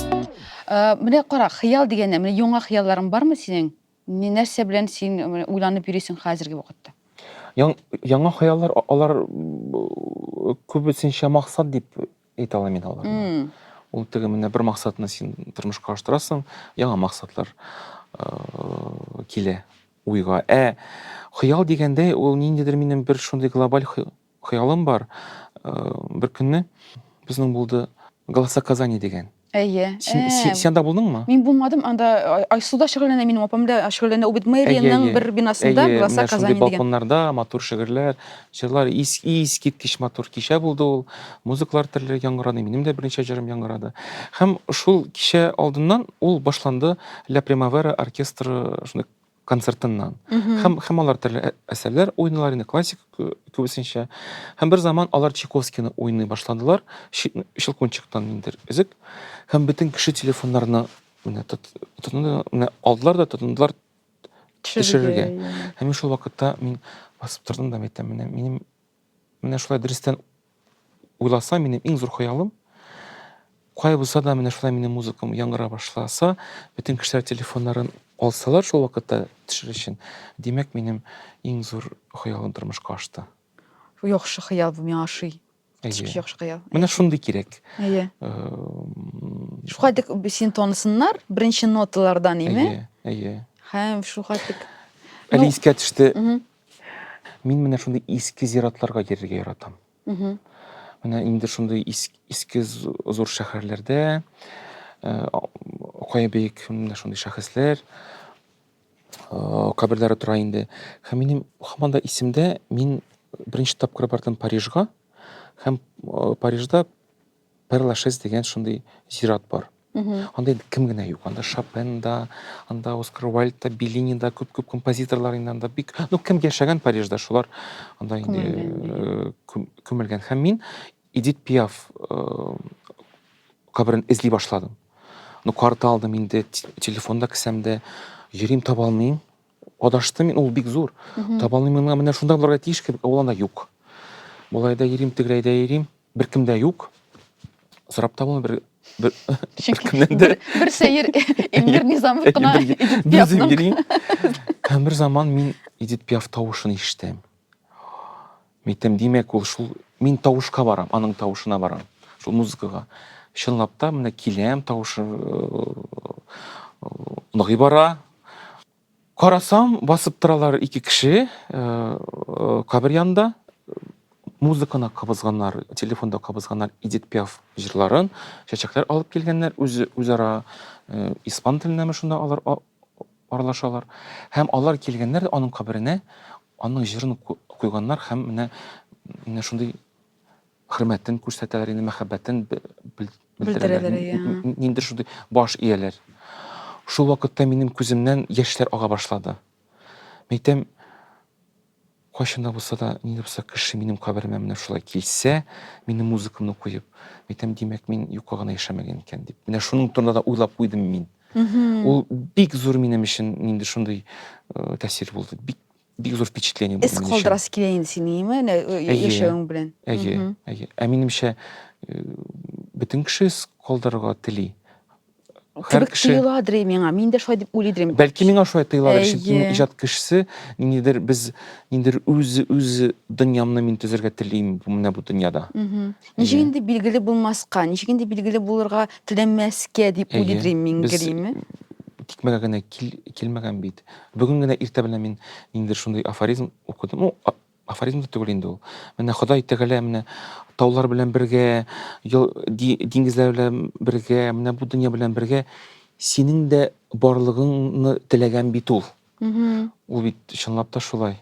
Speaker 1: Э, менә кара, хыял дигәннән, менә яңа хыялларың бармы синең? Ни нәрсә белән син э, уйланып йөрисең хәзерге вакытта? Яңа хыяллар алар э, күбесенчә максат дип әйтә алмыйм мин аларны ул теге менә бер максатны син тормышка аштырасың яңа максатлар э, килә уйга ә хыял дигәндәй ул ниндидер минем бер шундый глобаль хыялым бар э, бер көнне безнең булды голоса казани дигән Әйе. Син, Ә, син, син анда булдыңмы? Мин булмадым, анда Ай- Айсуда шөгыльләнә, минем апам да шөгыльләнә. Ул бит Әйе, мэриянең әйе. бер бинасында, Әйе, Гласа менә шундый Казани дигән. балконнарда матур шигырьләр, җырлар, ис, искиткеч матур кичә булды ул. Музыкалар төрле яңгырады, минем дә берничә җырым яңгырады. Һәм шул кичә алдыннан ул башланды, Ля Примавера оркестры шундый концертыннан. Һәм һәм алар төрле ә- әсәрләр уйныйлар инде классик кө- кебесенчә. Һәм бер заман алар Чайковскийны уйный башладылар. Чи- Щелкунчиктан ниндидер өзек. Һәм бөтен кеше телефоннарына менә тот- тотынды, менә алдылар да тотындылар төшерергә. Һәм мин шул вакытта мин басып тордым да әйтәм, менә минем Менә шулай дөрестән уйласам, минем иң зур хыялым, кая булса да менә шулай минем музыкам яңгыра башласа, бөтен кешеләр телефоннарын алсалар шул вакытта төшер өчен, димәк, минем иң зур хыялым тормышка ашты. Яхшы хыял бу, миңа ошый. Әйе. Яхшы хыял. Менә шундый кирәк. Әйе. Шуңа дик син тонысыннар беренче ноталардан, име? Әйе, әйе. Һәм шуңа дик. Әле искә төште. Мин менә шундый иске зиратларга йөрергә яратам. Менә инде шундый иске зур шәһәрләрдә кая бик менә шундый шәхесләр каберләре тора инде. Һәм минем һаман да исемдә, мин беренче тапкыр бардым Парижга һәм Парижда Перлашес дигән шундый зират бар. Анда кем генә юк, анда Шопен да, анда Оскар Уайльд да, Беллини да, күп-күп композиторлар инде анда бик, ну кем яшәгән Парижда, шулар анда инде э, күмелгән. Һәм мин Эдит Пиаф э, каберен эзли башладым. Ну карта алдым инде, телефонда кесәмдә, йөрим таба алмыйм. Адаштым мин, ул бик зур. Таба алмыйм миңа, менә шунда булырга тиеш кебек, ә ул анда юк. Болай да йөрим, тегеләй дә йөрим. Беркем дә юк. Сорап та булмый бер бер беркемнән дә. Бер сәер Эльмир Низамов кына Эдит Пиафның. Һәм бер заман мин Эдит Пиаф тавышын ишетәм. Митем, димәк, ул шул мин тавышка барам, аның тавышына барам, шул музыкага. Чынлап та, менә киләм, тавышы ныгый бара. Карасам, басып торалар ике кеше кабер янында. Музыканы кабызганнар, телефонда кабызганнар Эдит Пиаф җырларын, чәчәкләр алып килгәннәр, үз, үзара испан теленәме шунда алар Аралашалар. Һәм алар килгәннәр дә аның каберенә, аның җырын куйганнар һәм менә менә шундый хөрмәтен күрсәтәләр инде, мәхәббәтен белдерәләр. Ниндидер шундый баш ияләр. Шул вакытта минем күземнән яшьләр ага башлады. Мин әйтәм, Кайчан да булса да, нинди булса кеше минем каберемә менә шулай килсә, минем музыкамны куеп, әйтәм, димәк, мин юкка гына яшәмәгән икән дип. Менә шуның турында да уйлап куйдым мин. Ул бик зур минем өчен нинди шундый э, тәэсир булды. Бик бик зур впечатление булды. Эз калдырасы килә инде синең, име? Әнә э, яшәвең белән. Әйе, әйе. Ә минемчә, э, бөтен кеше эз калдырырга тели. Һәр Кебек кеше тоеладыр и миңа. Мин дә шулай дип уйлый идем. Бәлки миңа шулай тоеладыр, чөнки мин Әйе. иҗат кешесе, ниндидер без ниндидер үз үз дөньямны мин төзергә телим бу- менә бу дөньяда. Мгм. Ничек Әйе. инде билгеле булмаска, ничек инде билгеле булырга теләмәскә дип Әйе. уйлыйдыр инде мин Без героиме? тикмәгә генә кил, килмәгән бит. Бүген генә иртә белән мин ниндидер шундый афоризм укыдым. Ну, а- Афоризм да түгел инде ул. Менә Ходай Тәгалә менә таулар белән бергә, диңгезләр белән бергә, менә бу дөнья белән бергә синең дә барлыгыңны теләгән бит ул. Ул бит чынлап та шулай.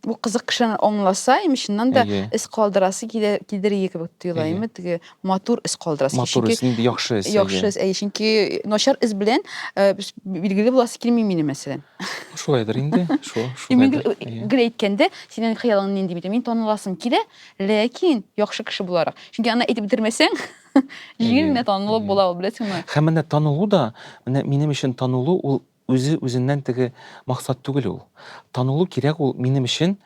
Speaker 1: Бу кызык кешеләр аңласа, им чыннан да эз калдырасы кидер кидер иде кебек тоела, име теге матур эз калдырасыз. Матур эз, нинди яхшы эз. Яхшы эз, әйе, чөнки начар эз белән билгеле буласы килми минем мәсәлән. Шулайдыр инде, шул, шулайдыр. Мин гел әйткәндә, синең хыялың нинди бит, мин таныласым килә, ләкин яхшы кеше буларак. Чөнки аны әйтеп бетермәсәң, җиңел генә танылып була ул, беләсеңме? Һәм менә танылу да, менә минем өчен танылу ул Үзе үзеннән теге максат түгел ул. Танылу кирәк ул минем өчен,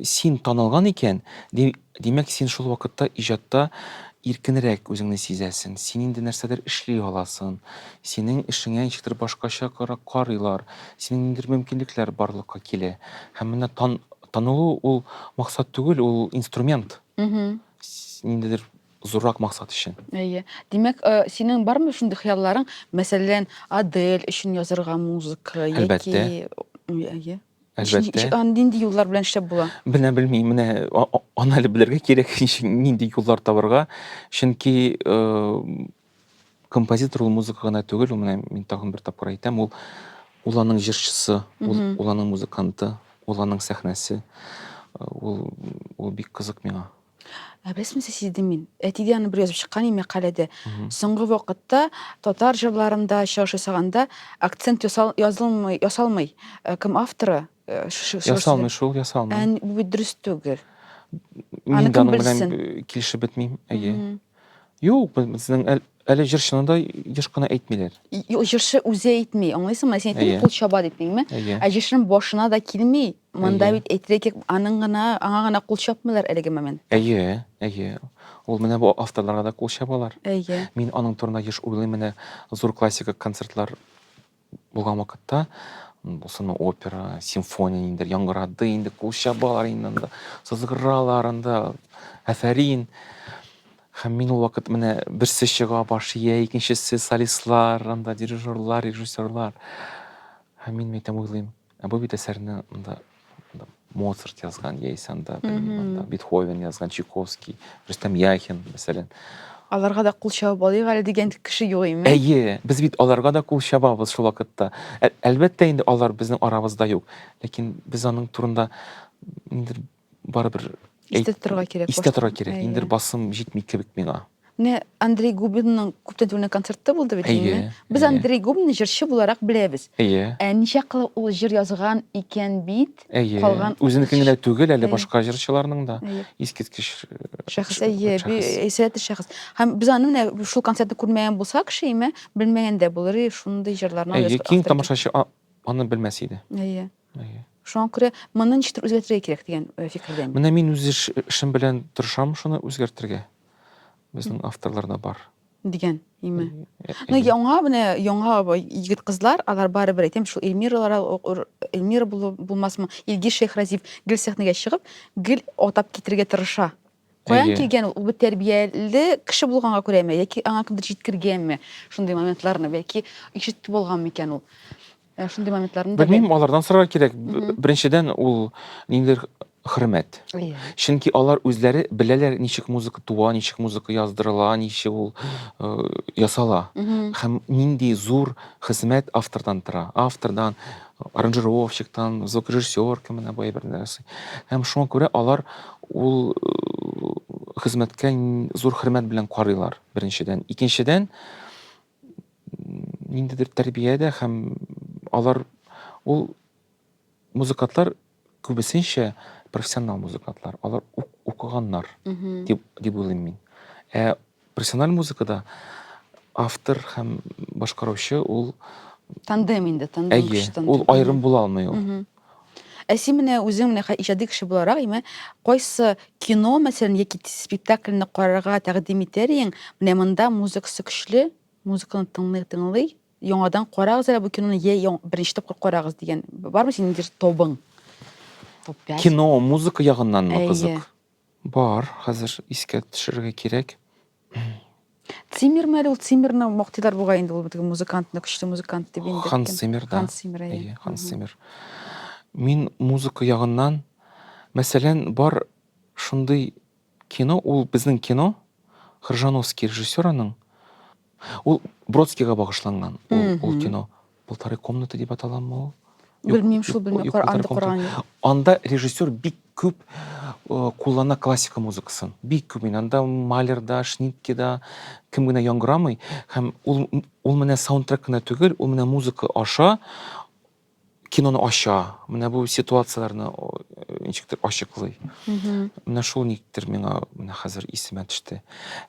Speaker 1: син танылган икән, димәк син шул вакытта иҗатта иркенрәк үзеңне сизәсең, син инде нәрсәдер эшли аласың, синең эшеңә ничектер башкача карыйлар, синең ниндидер мөмкинлекләр барлыкка килә. Һәм менә танылу ул максат түгел, ул инструмент. Ниндидер Зуррак максат өчен. Әйе. Димәк, э, синең бармы шундый хыялларың, мәсәлән, Адель өчен язырга музыка яки Әлбәттә. М, Әйе. Ничек- Әлбәттә. ничек- а, Нинди юллар белән эшләп була? Менә белмим, менә а- а- аны әле белергә кирәк, ничек- нинди юллар табырга. Чөнки э, композитор ул музыка гына түгел, ул менә мин тагын бер тапкыр әйтәм, ул ул аның җырчысы, ул, Мгм. ул аның музыканты, ул аның сәхнәсе. Э, Ул, ул бик кызык миңа. Ә беләсеңме, сиздем мин. Әтидә аны бер язып чыккан иде мәкаләдә. Соңгы вакытта татар җырларында чыгыш ясаганда акцент язылмый, ясалмый. Э, кем авторы? Э, ясалмый шул, ясалмый. Ә бу бит дөрес түгел. Мин дә аның белән килешеп бетмим. Әйе. Юк, безнең әле җырчыны да еш кына әйтмиләр. Җырчы үзе әйтми, аңлыйсыңмы? Син әйттең, кул чаба дип, димме? Ә җырчының башына да килми. Монда бит әйтелик, аның гына, аңа гына кул чапмыйлар әлеге момент. Әйе, әйе. Ул менә бу авторларга да кул чабалар. Әйе. Мин аның турында еш уйлыйм, менә зур классика концертлар булган вакытта, булсын опера, симфония ниндер яңгырады, инде кул чабалар инде анда, сызгыралар анда, афәрин. Һәм мин ул вакыт менә берсе чыга баш ия, икенчесе солистлар, анда дирижерлар, режиссерлар. Һәм мин мәйтәм уйлыйм, Ә бу бит әсәрне монда Моцарт язган, яисә анда Бетховен язган, Чайковский, Рөстәм Яхин, мәсәлән. Аларга да кул чабып алыйк әле дигән кеше юк име? Әйе, без бит аларга да кул чабабыз шул вакытта. Әлбәттә инде алар безнең арабызда юк, ләкин без аның турында барыбер истә торырга кирәк. Истә торырга кирәк. Инде бер басым җитми кебек миңа. Менә Андрей Губинның күптән түгел концерты булды бит инде. Без Андрей Губинны җырчы буларак беләбез. Ә ничә кылы ул җыр язган икән бит? Калган үзенекен генә түгел, әле башка җырчыларның да искиткеч шәхес. Әйе, сәләтле шәхес. Һәм без аны менә шул концертны күрмәгән булсак, шимә, белмәгән дә булыр, шундый җырларны язган. Әйе, киң тамашачы аны белмәс иде. Әйе. Шуңа күрә моны ничектер үзгәртергә кирәк дигән э, фикердән. Менә мин үз эшем белән тырышам шуны үзгәртергә. Безнең авторларда бар. Дигән, име. Э, э, ну, яңа менә яңа егет кызлар, алар барыбер әйтәм, шул Эльмиралар, Эльмира булмасмы, Илгиз Шейхразиев гел сәхнәгә чыгып, гел атап китерергә тырыша. Каян Әйе. килгән ул? Ул бит тәрбияле кеше булганга күрәме? Яки аңа кемдер җиткергәнме шундый моментларны? Бәлки ишетте булган микән ул? Ә, Шундый моментларны да Белмим, алардан сорарга кирәк. Б- Беренчедән ул ниндидер хөрмәт. бәл- Әйе. Чөнки алар үзләре беләләр, ничек музыка туа, ничек музыка яздырыла, ничек ул э, ясала. Мгм. Һәм нинди зур хезмәт автордан тора. Автордан, аранжировщиктан, звукорежиссерка менә бу әйберне ясый. Һәм шуңа күрә алар ул хезмәткә зур хөрмәт белән карыйлар, беренчедән. Икенчедән, ниндидер тәрбиядә һәм алар ул музыкантлар Күбесенчә профессионал музыкантлар, алар укыганнар дип, дип уйлыйм мин. Ә профессиональ музыкада автор һәм башкаручы ул тандем инде, тандем Әйе, кеше тандем. Ул аерым була алмый ул. Ә син менә үзең менә иҗади кеше буларак, имә, кайсы кино, мәсәлән, яки спектакльне карарга тәкъдим итәр идең? Менә монда музыкасы көчле, музыканы тыңлый, тыңлый, Яңадан карагыз әле бу киноны, я яң- беренче тапкыр карагыз дигән. Бармы синең дер- топың? Топ 5. Кино, музыка ягыннанмы Әйе. кызык? Бар, хәзер искә төшерергә кирәк. Циммерме әле ул? Циммерны мактыйлар бугай инде ул теге музыкантны, көчле музыкант дип инде. Ханс кем? Циммер, да. Ханс Циммер, әйе. Әйе, Ханс Мгм. Циммер. Мин музыка ягыннан, мәсәлән, бар шундый Кино ул безнең кино, Кржановский режиссер аның. Ул Бродскийга багышланган ул, ул кино. Полторы комнаты дип аталамы ул? Белмим шул, белмим, Коръанды Коръан. Анда режиссер бик күп э, куллана классика музыкасын. Бик күп мин анда Малерда, Шниккеда кем генә яңгырамый һәм ул ул менә саундтрек кенә түгел, ул менә музыка аша киноны ача, менә бу ситуацияләрне ничектер ачыклый. Менә шул никтер миңа менә хәзер исемә төште.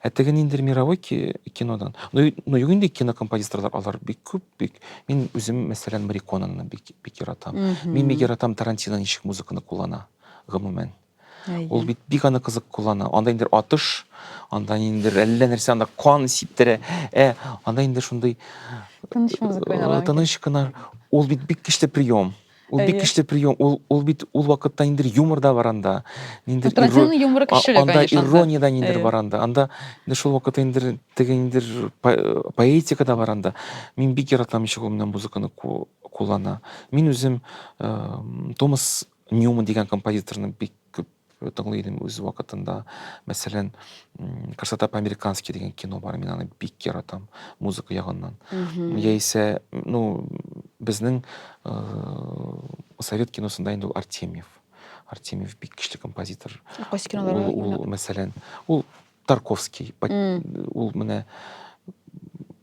Speaker 1: Ә теге ниндер мировой кинодан. Ну, ну юк инде кинокомпозиторлар алар бик күп, бик. Мин үзем, мәсәлән, Мариконаны бик бик яратам. Мин бик яратам Тарантино ничек музыканы куллана, гомумән. Ул бит бик аны кызык куллана. Анда инде атыш, анда инде әллә нәрсә, анда кан сиптерә. Ә анда инде шундый тыныч музыка уйнала. Тыныч кына. Ул бит бик көчле прием. Ул бик көчле прием. Ул ул бит ул вакытта инде юмор да бар анда. Инде Тратин юморы көчле, конечно. Анда ирония да инде бар анда. Анда инде шул вакытта инде теге инде поэтика да бар анда. Мин бик яратам ничек ул менә музыканы куллана. Мин үзем Томас Ньюман дигән композиторны бик күп тыңлый идем үз вакытында. Мәсәлән, Красота по-американски дигән кино бар, мин аны бик яратам музыка ягыннан. Яисә, ну, безнең совет киносында инде Артемьев. Артемьев бик көчле композитор. Кайсы кинолары? Ул, мәсәлән, ул Тарковский. Ул менә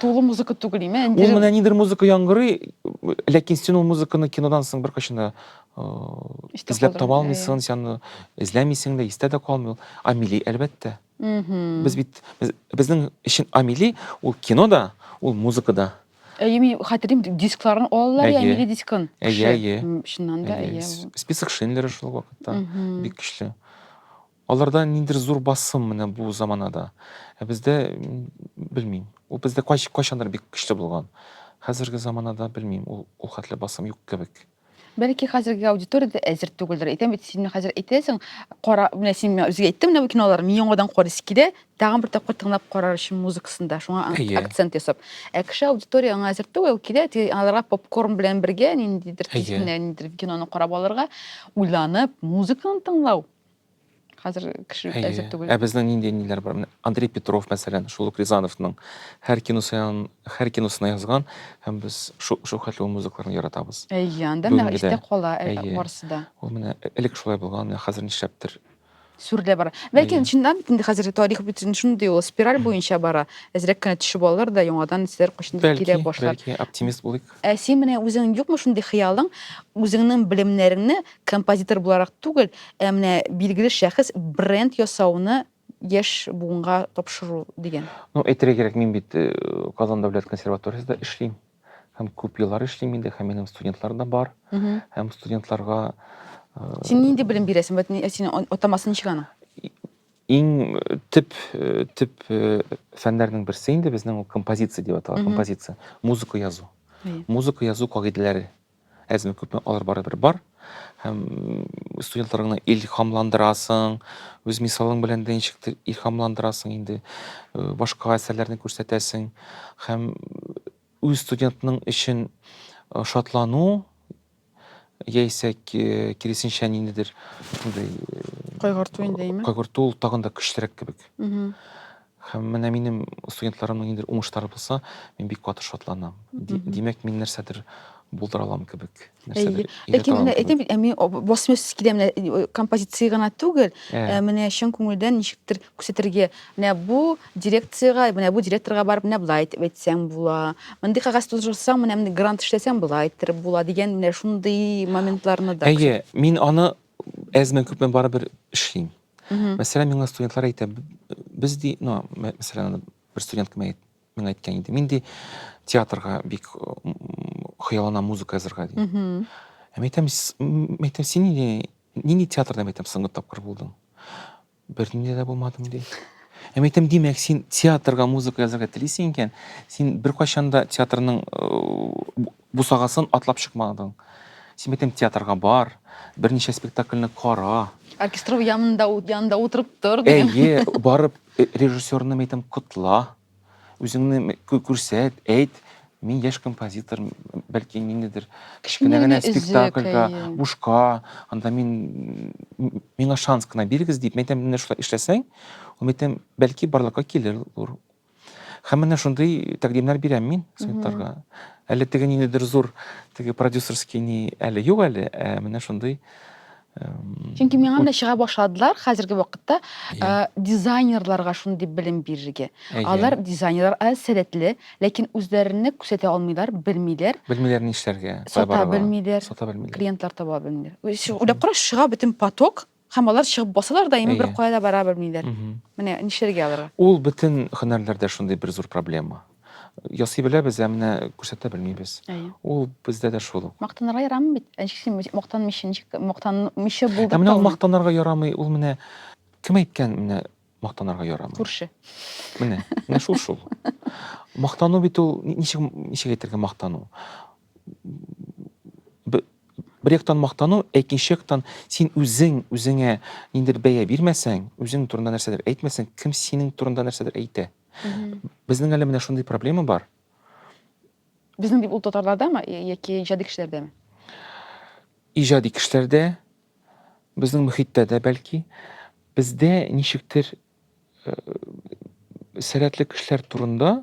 Speaker 1: тулы музыка түгел име ул менә ниндидер музыка яңгырый ләкин син ул музыканы кинодан соң беркайчан да эзләп таба алмыйсың син аны эзләмисең дә истә дә калмый ул амели әлбәттә без бит безнең өчен амели ул кино да ул музыка да әйе мин хәтерлим дискларын алалар я амели дискын әйе әйе чыннан да әйе список шиндлера шул вакытта бик көчле Аларда ниндидер зур басым менә бу заманада. Ә бездә, белмим, ул бездә кайчандыр бик көчле булган. Хәзерге заманада, белмим, ул ул хәтле басым юк кебек. Бәлки хәзерге аудитория дә әзер түгелдер. Әйтәм бит, син менә хәзер әйтәсең, кара, менә син миңа үзгә әйттең менә бу киноларны, мин яңадан карыйсы килә, тагын бер тапкыр тыңлап карар өчен музыкасын да, шуңа акцент ясап. Ә кеше аудитория аңа әзер түгел, килә, аларга попкорн белән бергә ниндидер кечкенә ниндидер киноны карап алырга, уйланып, музыканы тыңлау. хәзер кеше әзер түгел. Ә безнең нинди ниләр бар? Менә Андрей Петров, мәсәлән, шул ук Рязановның һәр киносын, һәр киносына язган һәм без шул хәтле музыкаларын яратабыз. Әйе, анда менә истә кала барысы да. Ул менә элек шулай булган, менә хәзер нишләптер сүрелә бара. Ләкин чыннан бит инде хәзер тарих бит шундый ул спираль буенча бара. Әзрәк кенә төшеп алыр да яңадан сер кочында килә башлар. Бәлки, оптимист булыйк. Ә син менә үзең юкмы шундый хыялың, үзеңнең белемнәреңне композитор буларак түгел, ә менә билгеле шәхес бренд ясауны яшь буынга тапшыру дигән? Ну, әйтергә кирәк, мин бит Казан дәүләт консерваториясендә эшлим. Һәм күп еллар эшлим инде, һәм минем студентлар да бар. Һәм студентларга Син нинди белем бирәсең? Вот синең атамасы ничек аның? Иң төп төп фәннәрнең берсе инде безнең ул композиция дип атала, композиция, музыка язу. Музыка язу кагыйдәләре әзме күпме алар барыбер бар һәм студентларыңны илһамландырасың үз мисалың белән дә ничектер илһамландырасың инде э, башка әсәрләрне күрсәтәсең һәм үз студентның өчен э, шатлану яисә киресенчә ниндидер шундый кайгырту инде әйме кайгырту ул тагын да көчлерәк кебек һәм менә минем студентларымның ниндидер уңышлары булса мин бик каты шатланам димәк мин нәрсәдер булдыра алам кебек ләкин менә әйтәм бит ә мин басмыйсыз килә менә композиция гына түгел ә менә чын күңелдән ничектер Күрсәтергә, менә бу дирекциягә, менә бу директорга барып, менә болай итеп әйтсәң була. Мондый кәгазь тутырсаң, менә мондый грант эшләсәң болай иттереп була дигән менә шундый моментларны да. Әйе, мин аны әзме күпме барыбер эшлим. Мәсәлән, миңа студентлар әйтә, без ди, ну, мәсәлән, бер студент кем әйт, миңа әйткән иде. Мин ди театрга бик хыялына музыка язырга ди. Ә мәйтәм, мәйтәм син нинди театрда мәйтәм соңгы тапкыр булдың? Бернинди дә булмадым, ди. Ә мин әйтәм, димәк, син театрга музыка язарга телисең икән, син беркайчан да театрның э, бусагасын атлап чыкмадың. Син әйтәм, театрга бар, берничә спектакльне кара. Оркестров янында, ут- янында утырып тор. дигән. Әйе, барып э, режиссерны әйтәм, котла. Үзеңне күрсәт, әйт, мин яшь композитор, бәлки ниндидер кечкенә генә спектакльгә, бушка, анда мин миңа шанс кына бирегез дип, мәйтәм, менә шулай эшләсәң, ул мәйтәм, бәлки барлыкка килер ул. Һәм менә шундый тәкъдимнәр бирәм мин студентларга. Әле теге ниндидер зур теге продюсерский ни әле юк әле, ә менә шундый Чөнки миңа менә чыга башладылар хәзерге вакытта иә. э, дизайнерларга шундый белем бирергә. Әйе. Алар дизайнерлар ә, сәләтле, ләкин үзләренә күрсәтә алмыйлар, белмиләр, Белмиләр ни эшләргә. сата барырга. белмиләр, Сата белмиләр. клиентлар таба белмиләр. Үз- Уйлап караш, чыга бөтен поток, һәм алар чыгып басалар да, ими бер Әйе. кая да бара белмиләр. Мгм. Менә нишләргә аларга? Ул бөтен һөнәрләрдә шундый бер зур проблема. Ясый беләбез, ә менә күрсәтә белмибез. Әйе. Ул бездә дә шул ук. Мактанырга ярамый бит. Ничек син мактанмыйча, ничек мактанмыйча булдырып Ә менә ул мактанырга ярамый, ул менә кем әйткән менә мактанырга ярамый? Күрше. Менә, менә шул шул. Мактану бит ул ничек ничек әйтергә мактану? Бер яктан мактану, ә икенче яктан син үзең үзеңә ниндер бәя бирмәсәң, үзең турында нәрсәдер әйтмәсәң, кем синең турында нәрсәдер әйтә? Безнең әле менә шундый проблема бар. Безнең дип ул татарлардамы яки иҗади кешеләрдәме? Иҗади кешеләрдә, безнең мөхиттә дә бәлки. Бездә ничектер э, сәләтле кешеләр турында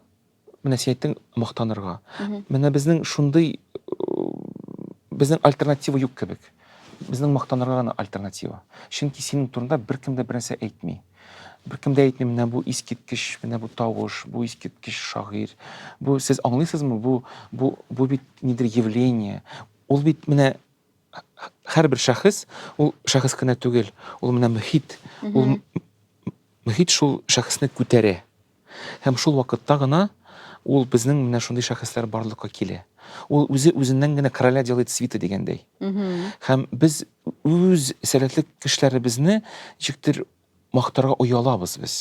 Speaker 1: менә син әйттең мактанырга. Менә безнең шундый безнең альтернатива юк кебек. Безнең мактанырга гына альтернатива. Чөнки синең турында беркем дә бернәрсә әйтми. Беркем дә әйтми, менә бу искиткеч, менә бу тавыш, бу искиткеч шагыйрь. Бу сез аңлыйсызмы, бу бу бу бит нидер явление. Ул бит менә һәрбер шәхес, ул шәхес кенә түгел, ул менә мөхит. Ул мөхит шул шәхесне күтәрә. Һәм шул вакытта гына ул безнең менә шундый шәхесләр барлыкка килә. Ул үзе үзеннән генә короля делает свита дигәндәй. Һәм без үз сәләтле кешеләребезне ничектер мактарга оялабыз без.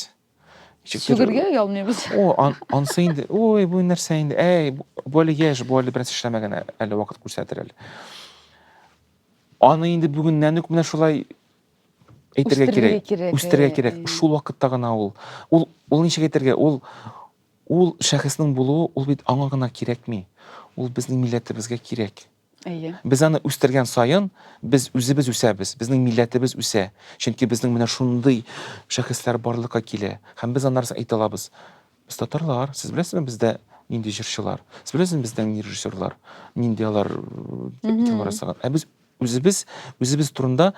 Speaker 1: Сүгергә оялмыйбыз. О, ансы инде, ой, бу нәрсә инде, әй, бу әле яшь, бу әле бераз эшләмәгән, әле вакыт күрсәтер әле. Аны инде бүгеннән үк менә шулай әйтергә кирәк, үстерергә кирәк. Шул вакытта гына ул ул ул ничек әйтергә, ул ул шәхеснең булуы ул бит аңа гына кирәкми. Ул безнең милләтебезгә кирәк. Әйе. Без аны үстергән саен, без үзебез үсәбез, безнең милләтебез үсә. Чөнки безнең менә шундый шәхесләр барлыкка килә. Һәм без аннарны әйтә алабыз. Без татарлар, сез беләсезме бездә нинди җырчылар? Сез беләсезме бездә нинди режиссерлар? Нинди алар кинолар ясаган? Ә без Үзебез үзебез турында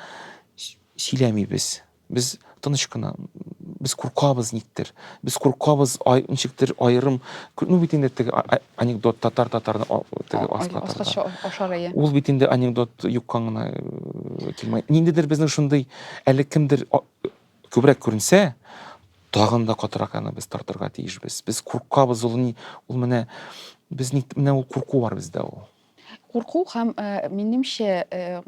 Speaker 1: сөйләмибез. Без тыныч кына, без куркабыз никтер. Без куркабыз ай, ничектер аерым, ну бит инде теге анекдот татар татарны теге аскатырга. Ашарые. Ул бит инде анекдот юккан гына э, килмәй. Ниндидер безнең шундый әле кемдер күбрәк күренсә, тагын да катырак аны без тартырга тиешбез. Без куркабыз ул ни, ул менә без ник менә ул курку бар бездә ул. курку һәм э, минемчә э,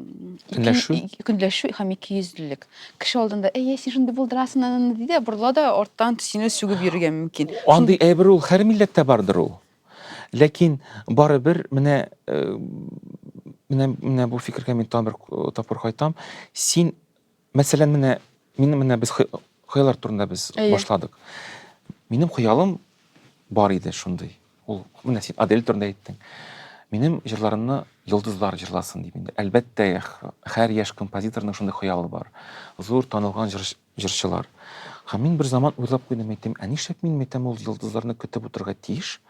Speaker 1: ике- Көнләшү? и- көнләшү һәм икейөзлелек кеше алдында әйе син шундый булдырасың ананы ди дә борыла да арттан сине сүгеп йөрергә мөмкин Андый әйбер ул һәр милләттә бардыр ул. Ләкин барыбер менә э, менә менә бу фикергә мин тагын бер э, тапкыр кайтам. Син Мәсәлән, менә мин менә без хыяллар турында без башладык. Минем хыялым бар иде шундый. Ул менә син Адель турында әйттең. Минем җырларымны йолдызлар җырласын дип инде. Әлбәттә, һәр яшь композиторның шундый хыялы бар. Зур танылган җырчылар. Һәм мин бер заман уйлап куйдым, әйттем, ә нишләп мин мәйтәм ул йолдызларны көтеп утырырга тиеш?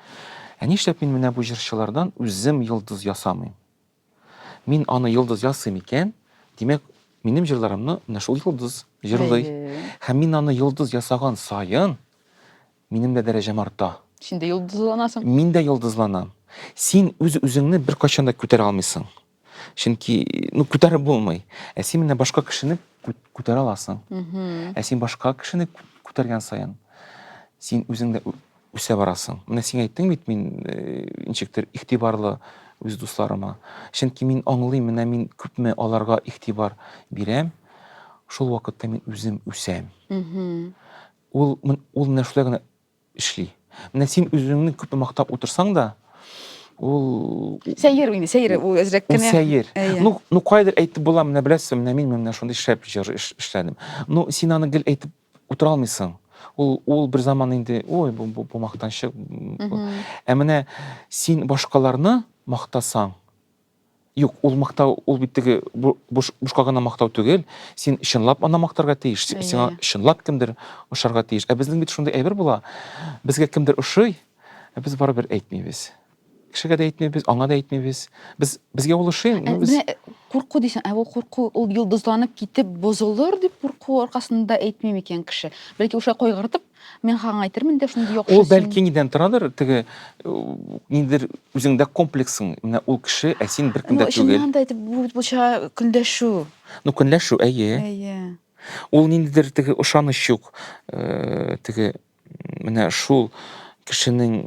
Speaker 1: Ә нишләп мин менә бу җырчылардан үзем йолдыз ясамыйм? Мин аны йолдыз ясыйм икән, димәк, минем җырларымны менә шул йолдыз җырлый. Һәм мин аны йолдыз ясаган саен, минем дә дәрәҗәм арта. Син дә йолдызланасың. Мин дә йолдызланам. Син үз үзеңне беркайчан да күтәрә алмыйсың. Чөнки, ну, күтәреп булмый. Ә син менә башка кешене күтәрә аласың. Ә син башка кешене күтәргән саен, син үзең дә үсә барасың. Менә син әйттең бит, мин э, ничектер игътибарлы үз дусларыма. Чөнки мин аңлыйм, менә мин күпме аларга игътибар бирәм, шул вакытта мин үзем үсәм. Ул ул менә шулай гына эшли. Менә син үзеңне күпме мактап утырсаң да, ул сәер инде, сәер ул әзрәк кенә. Сәер. Ну, ну кайдыр әйтеп була, менә беләсең, менә мин менә шундый шәп җыр эшләдем. Ну, син аны гел әйтеп Утыра алмыйсың. Ул, ул бер заман инде, ой, бу, бу, бу мактанчык. Ә менә син башкаларны мактасаң, Юк, ул мактау, ул бит теге бушка гына мактау түгел. Син чынлап аны мактарга тиеш. Сиңа чынлап кемдер ошарга тиеш. Ә безнең бит шундый әйбер була. Безгә кемдер ошый, ә без барыбер әйтмибез. Кешегә дә әйтмибез, аңа да әйтмибез. Без безгә ул ошый, Ә, ну без Менә э, курку дисең, ә бу курку ул йолдызланып китеп бозылыр дип курку аркасында әйтми микән кеше? Бәлки уша кайгыртып, мин хагың әйтермен дә шундый яхшы ул син. бәлки нидән торадыр, теге э, ниндидер үзеңдә комплексың. Менә ул кеше, ә син бер кем Ну, дә түгел. чыннан да әйтеп бу бит булча көнләшү. Ну, көнләшү, әйе. Әйе. Ул ниндидер теге ышаныч юк. Э, Теге Менә шул кешенең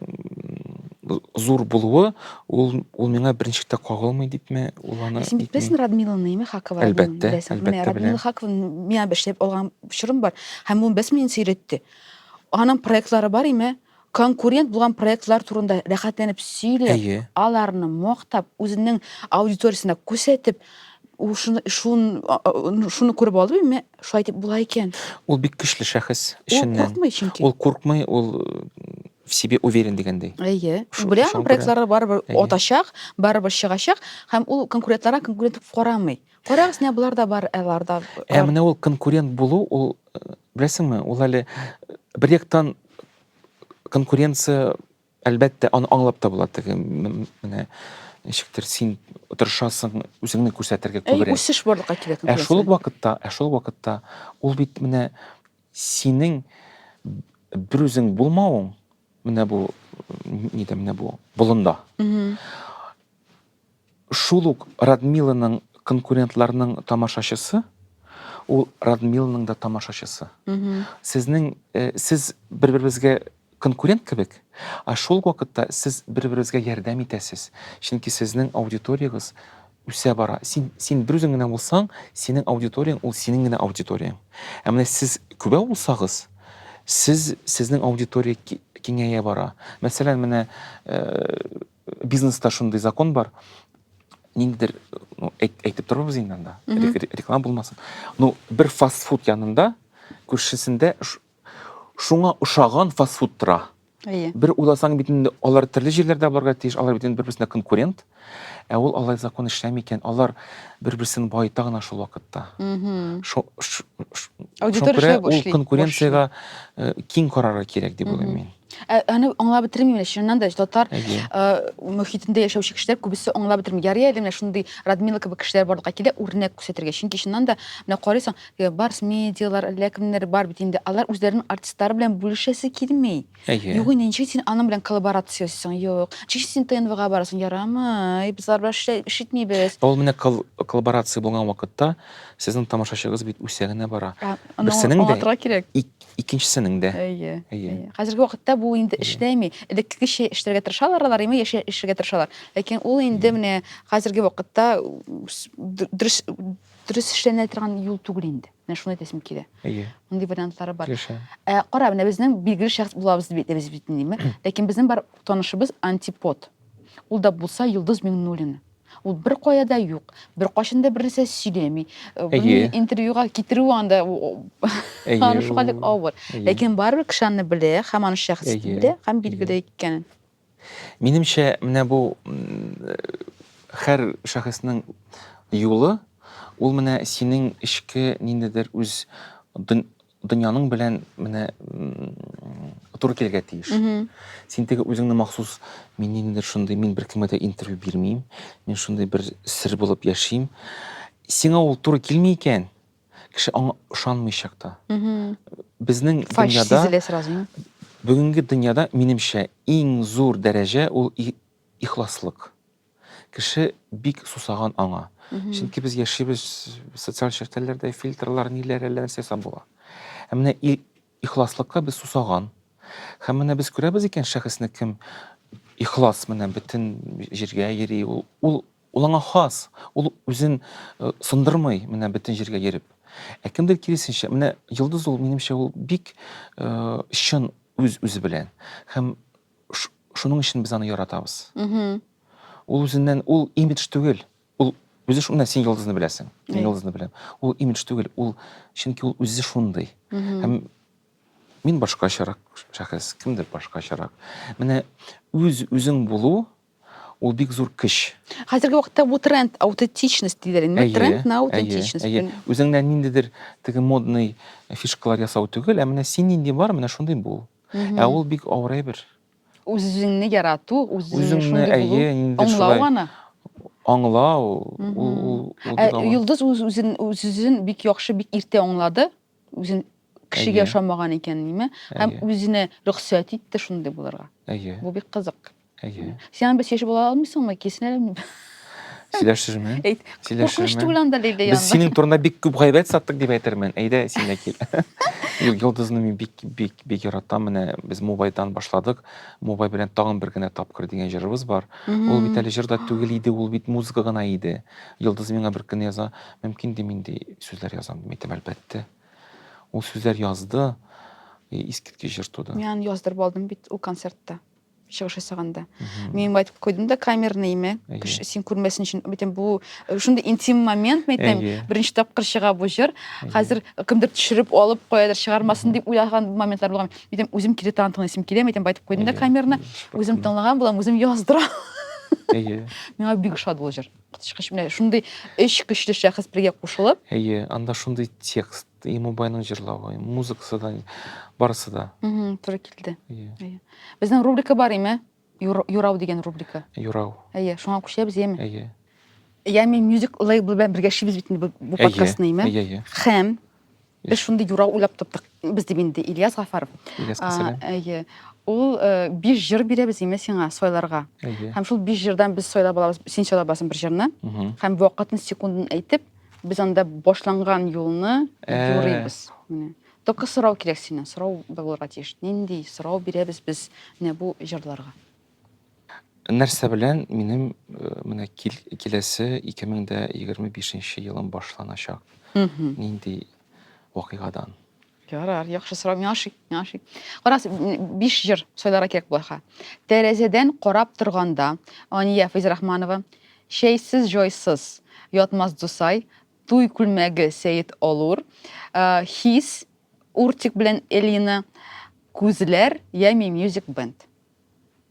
Speaker 1: зур булуы, ул, ул миңа беренче китә кагылмый дипме, ул аны... Син бит беләсең Радмиланы, яме Хакова Радмиланы Әлбәттә, беләсең. Менә әлбәттә Радмила беләм. Хакованы миңа бер эшләп алган чорым бар. Һәм ул без мине сөйрәтте. Аның проектлары бар име? Конкурент булган проектлар турында рәхәтләнеп сөйләп, Әйе. аларны мактап, үзенең аудиториясенә күрсәтеп, ул шуны, шун, а- а- шуны күреп алды име? Шулай дип була икән. Ул бик көчле шәхес эченнән. Ул куркмый чөнки. Ул куркмый, ул в себе уверен дигәндәй. Әйе. Белә аның проектлары барыбер атачак, барыбер чыгачак һәм ул конкурентларга конкурент дип карамый. Карагыз, менә болар да бар, алар да. Ә менә ул конкурент булу, ул э, беләсеңме, ул әле э, бер яктан конкуренция Әлбәттә, аны аңлап та була, теге менә ничектер син тырышасың, үзеңне күрсәтергә күбрәк. Әй, үсеш барлыкка килә. Ә шул ук вакытта, ә шул ук вакытта ул бит менә синең бер үзең булмавың, менә бу нидә менә бу болында. Шул ук Радмиланың конкурентларның тамашачысы, ул Радмиланың да тамашачысы. Сезнең, сез бер-беребезгә конкурент кебек, ә шул ук вакытта сез бер-беребезгә ярдәм итәсез, чөнки сезнең аудиториягез үсә бара. Син, син бер үзең генә булсаң, синең аудиторияң ул синең генә аудиторияң. Ә менә сез күбәү булсагыз, сез, сезнең аудитория киңәя бара. Мәсәлән, менә, бизнеста шундый закон бар ниндидер ну, әйтеп торбыз инде анда реклама булмасын ну бер фастфуд янында күршесендә шуңа ошаган фастфуд тора әйе бер уйласаң бит инде алар төрле җирләрдә барырга тиеш алар бит инде бер берсенә конкурент ә ул алай закон эшләми икән алар бер берсен баета гына шул вакытта аудитория ул конкуренцияга э, киң карарга кирәк дип уйлыйм мин Ә, аны аңлап бетермим менә чыннан да татар Әйе. э, мөхитендә яшәүче кешеләр күбесе аңлап бетерми. Ярый әле менә шундый Радмила кебек кешеләр барлыкка килә үрнәк күрсәтергә. Чөнки чыннан да менә карыйсың, э, барс медиалар, әллә кемнәр бар бит инде. Алар үзләренең артистлары белән бүлешәсе килми. Әйе. Юк инде ничек син аның белән коллаборация ясыйсың? Юк. Ничек син ТНВга барасың? Ярамый. Без алар белән эшлә- эш итмибез. Ә Ул менә кол- коллаборация булган вакытта сезнең тамашачыгыз бит үсә генә бара. Ә, аны Берсенең дә- аңлатырга кирәк. Ик- Икенчесенең дә. Әйе. Әйе. Хәзерге вакытта бу инде эшләми. Элеккечә эшләргә тырышалар алар, яме яшә эшләргә тырышалар. Ләкин ул инде менә хәзерге вакытта дөрес дөрес эшләнә торган юл түгел инде. Менә шуны әйтәсем килә. Әйе. Мондый вариантлары бар. Килешәм. Ә кара, менә безнең билгеле шәхес булабыз дип әйтәбез бит инде, Ләкин безнең бар танышыбыз антипод. Ул да булса Йолдыз Миңнуллина. Ул бер кая да юк, бер кашын да бернәрсә сөйләми. Бу интервьюга китерү анда аны шуга дип авыр. Ләкин барыбер кеше аны белә, һәм аны шәхес белә, һәм билгеле икәнен. Минемчә, менә бу һәр шәхеснең юлы, ул менә синең эчке ниндидер үз дөньяның белән менә туры килергә тиеш син теге үзеңне махсус мин ниндидер шундый мин беркемгә дә интервью бирмим, мин шундый бер сер булып яшим. сиңа ул туры килми икән кеше аңа ышанмыйчак та безнең дөньяда бүгенге дөньяда минемчә иң зур дәрәҗә ул ихласлык Кеше бик сусаган аңа. Чөнки без яшибез социаль челтәрләрдә, фильтрлар, ниләр, әллә нәрсә ясап була. Ә менә ихласлыкка без сусаган. Һәм менә без күрәбез икән шәхесне кем ихлас менә бөтен җиргә йөри, ул ул ул аңа хас, ул үзен э, сындырмый менә бөтен җиргә йөреп. Ә кемдер киресенчә, менә йолдыз ул минемчә ул бик э, чын үз үзе белән һәм Шуның өчен без аны яратабыз. Ул үзеннән, ул имидж түгел. Ул үзе шуны, син йолдызны беләсең. Мин йолдызны беләм. Ул имидж түгел, ул чөнки ул үзе шундый. Һәм мин башкачарак шәхес, кемдер башкачарак. Менә үз үзең булу Ул бик зур көч. Хәзерге вакытта бу тренд, аутентичность диләр инде. Әйе, тренд на аутентичность. Әйе, әйе. Үзеңнән ниндидер теге модный фишкалар ясау түгел, ә менә син нинди бар, менә шундый бул. Ә ул бик авыр әйбер. Үзеңне ярату, үзеңне шундый булу. Әйе, ниндидер шулай. Аңлау аны. Аңлау. Ул, ул, ул. Ә Йолдыз үз үзен, үз үзен бик яхшы, бик иртә аңлады. үзен кешегә ошамаган икән ниме һәм үзенә рөхсәт итте шундый булырга әйе бу бик кызык әйе син аны сөйләшеп ала алмыйсыңмы киселәләр сөйләшермен әйт куркыныч түгел анда лилия без синең турында бик күп гайбәт саттык дип әйтермен әйдә син дә кил йолдызны мин бик бик бик яратам менә без мубайдан башладык мубай белән тагын бер генә тапкыр дигән җырыбыз бар ул бит әле җыр да түгел иде ул бит музыка гына иде йолдыз миңа бер көнне яза Мөмкин ди мин ди сүзләр язам ди әйтәм әлбәттә. Ул сүзләр язды, искиткеч җыр туды. Мин аны яздырып алдым бит ул концертта чыгыш ясаганда мин айтып койдым да камерныйме кеше син күрмәсен өчен бөтен бу шундый интим момент мен әйтәм беренче тапкыр чыга бу җыр хәзер кемдер төшереп алып каядыр чыгармасын дип уйлаган моментлар булган әйтәм үзем кире тагын тыңлыйсым килә әйтәм айтып койдым да камерны үзем тыңлаган булам үзем яздырам әйе миңа бик ошады ул җыр Коточкыч менә шундый өч көчле шәхес бергә кушылып. Әйе, анда шундый текст, и Мубайның җырлавы, музыкасы да, барысы да. Угу, туры килде. Әйе. Безнең рубрика бар име? Юрау дигән рубрика. Юрау. Әйе, шуңа күчәбез, яме? Әйе. Яме мюзик лейбл белән бергә шибез бит инде бу подкастны, яме? Әйе, әйе. Хәм Без шундый юра уйлап таптык. Без дип инде Ильяс Гафаров. Ильяска сәлам. Әйе. Ул э, биш җыр бирәбез име сиңа сайларга. Әйе. Һәм шул биш җырдан без сайлап алабыз, син сайлап аласың бер җырны. Һәм вакытын, секундын әйтеп, без анда башланган юлны э. юрыйбыз. Менә. Только сорау кирәк синнән, сорау булырга тиеш. Нинди сорау бирәбез без менә бу җырларга? Нәрсә белән минем э, менә кил, киләсе 2025 елым башланачак? Нинди вакыйгадан? Ярар, яхшы сорау. Миңа ошый, миңа ошый. Карас, биш җыр сайларга кирәк булаха. Тәрәзәдән карап торганда, Ания Фәйзрахманова, Чәйсез җайсыз, Ятмас Дусай, Туй күлмәге Сәет Олур, э, Хис, Уртик белән Элина, Күзләр, Ями Music Band.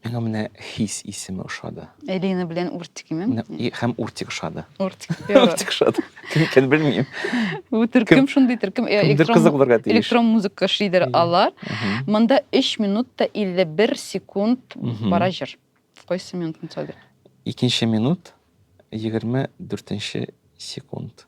Speaker 1: Миңа менә хис исеме ошады. Элина белән Уртик име? Хәм Уртик ошады. Уртик. Уртик ошады. Кем икән белмим. Бу төркем шундый төркем. Э, электрон музыка шидер алар. Монда 3 минут та 51 секунд бара җыр. Кайсы минутны сөйләдек? Икенче минут 24 секунд.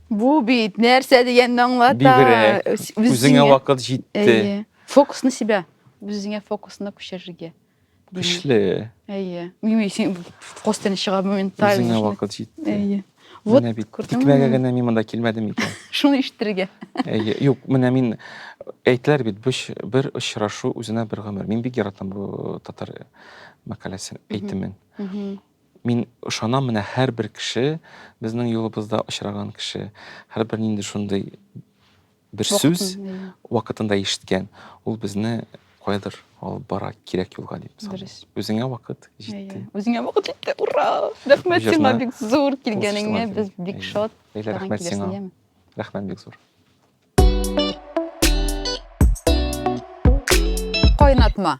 Speaker 1: Бу бит нәрсә дигәнне аңлата. Бигрәк. Үз- үз Үзеңә зиңә- вакыт җитте. Әйе. Фокус на себя. Үзеңә фокусны күчерергә. димәк. Көчле. Әйе. Мими, син костяны чыга моментально. Үзеңә шуны- вакыт җитте. Әйе. Вот, Менә бит. күрдеңме? Тикмәгә генә мин монда килмәдем икән. Шуны ишетергә. Әйе. Юк, менә мин әйтеләр бит, бүш- бер очрашу үзенә бер гомер. Мин бик яратам бу татар мәкаләсен, Мгм. әйтемен. Мгм. Мин ышанам, менә һәрбер кеше, безнең юлыбызда очраган кеше, һәрбер нинди шундый бер сүз вакытында ишеткән, ул безне каядыр алып бара кирәк юлга дип саныйм. Үзеңә вакыт җитте. Үзеңә вакыт җитте. Ура! Рәхмәт сиңа бик зур килгәнеңә. Без бик шат. Рәхмәт сиңа. Рәхмәт бик зур. Кайнатма.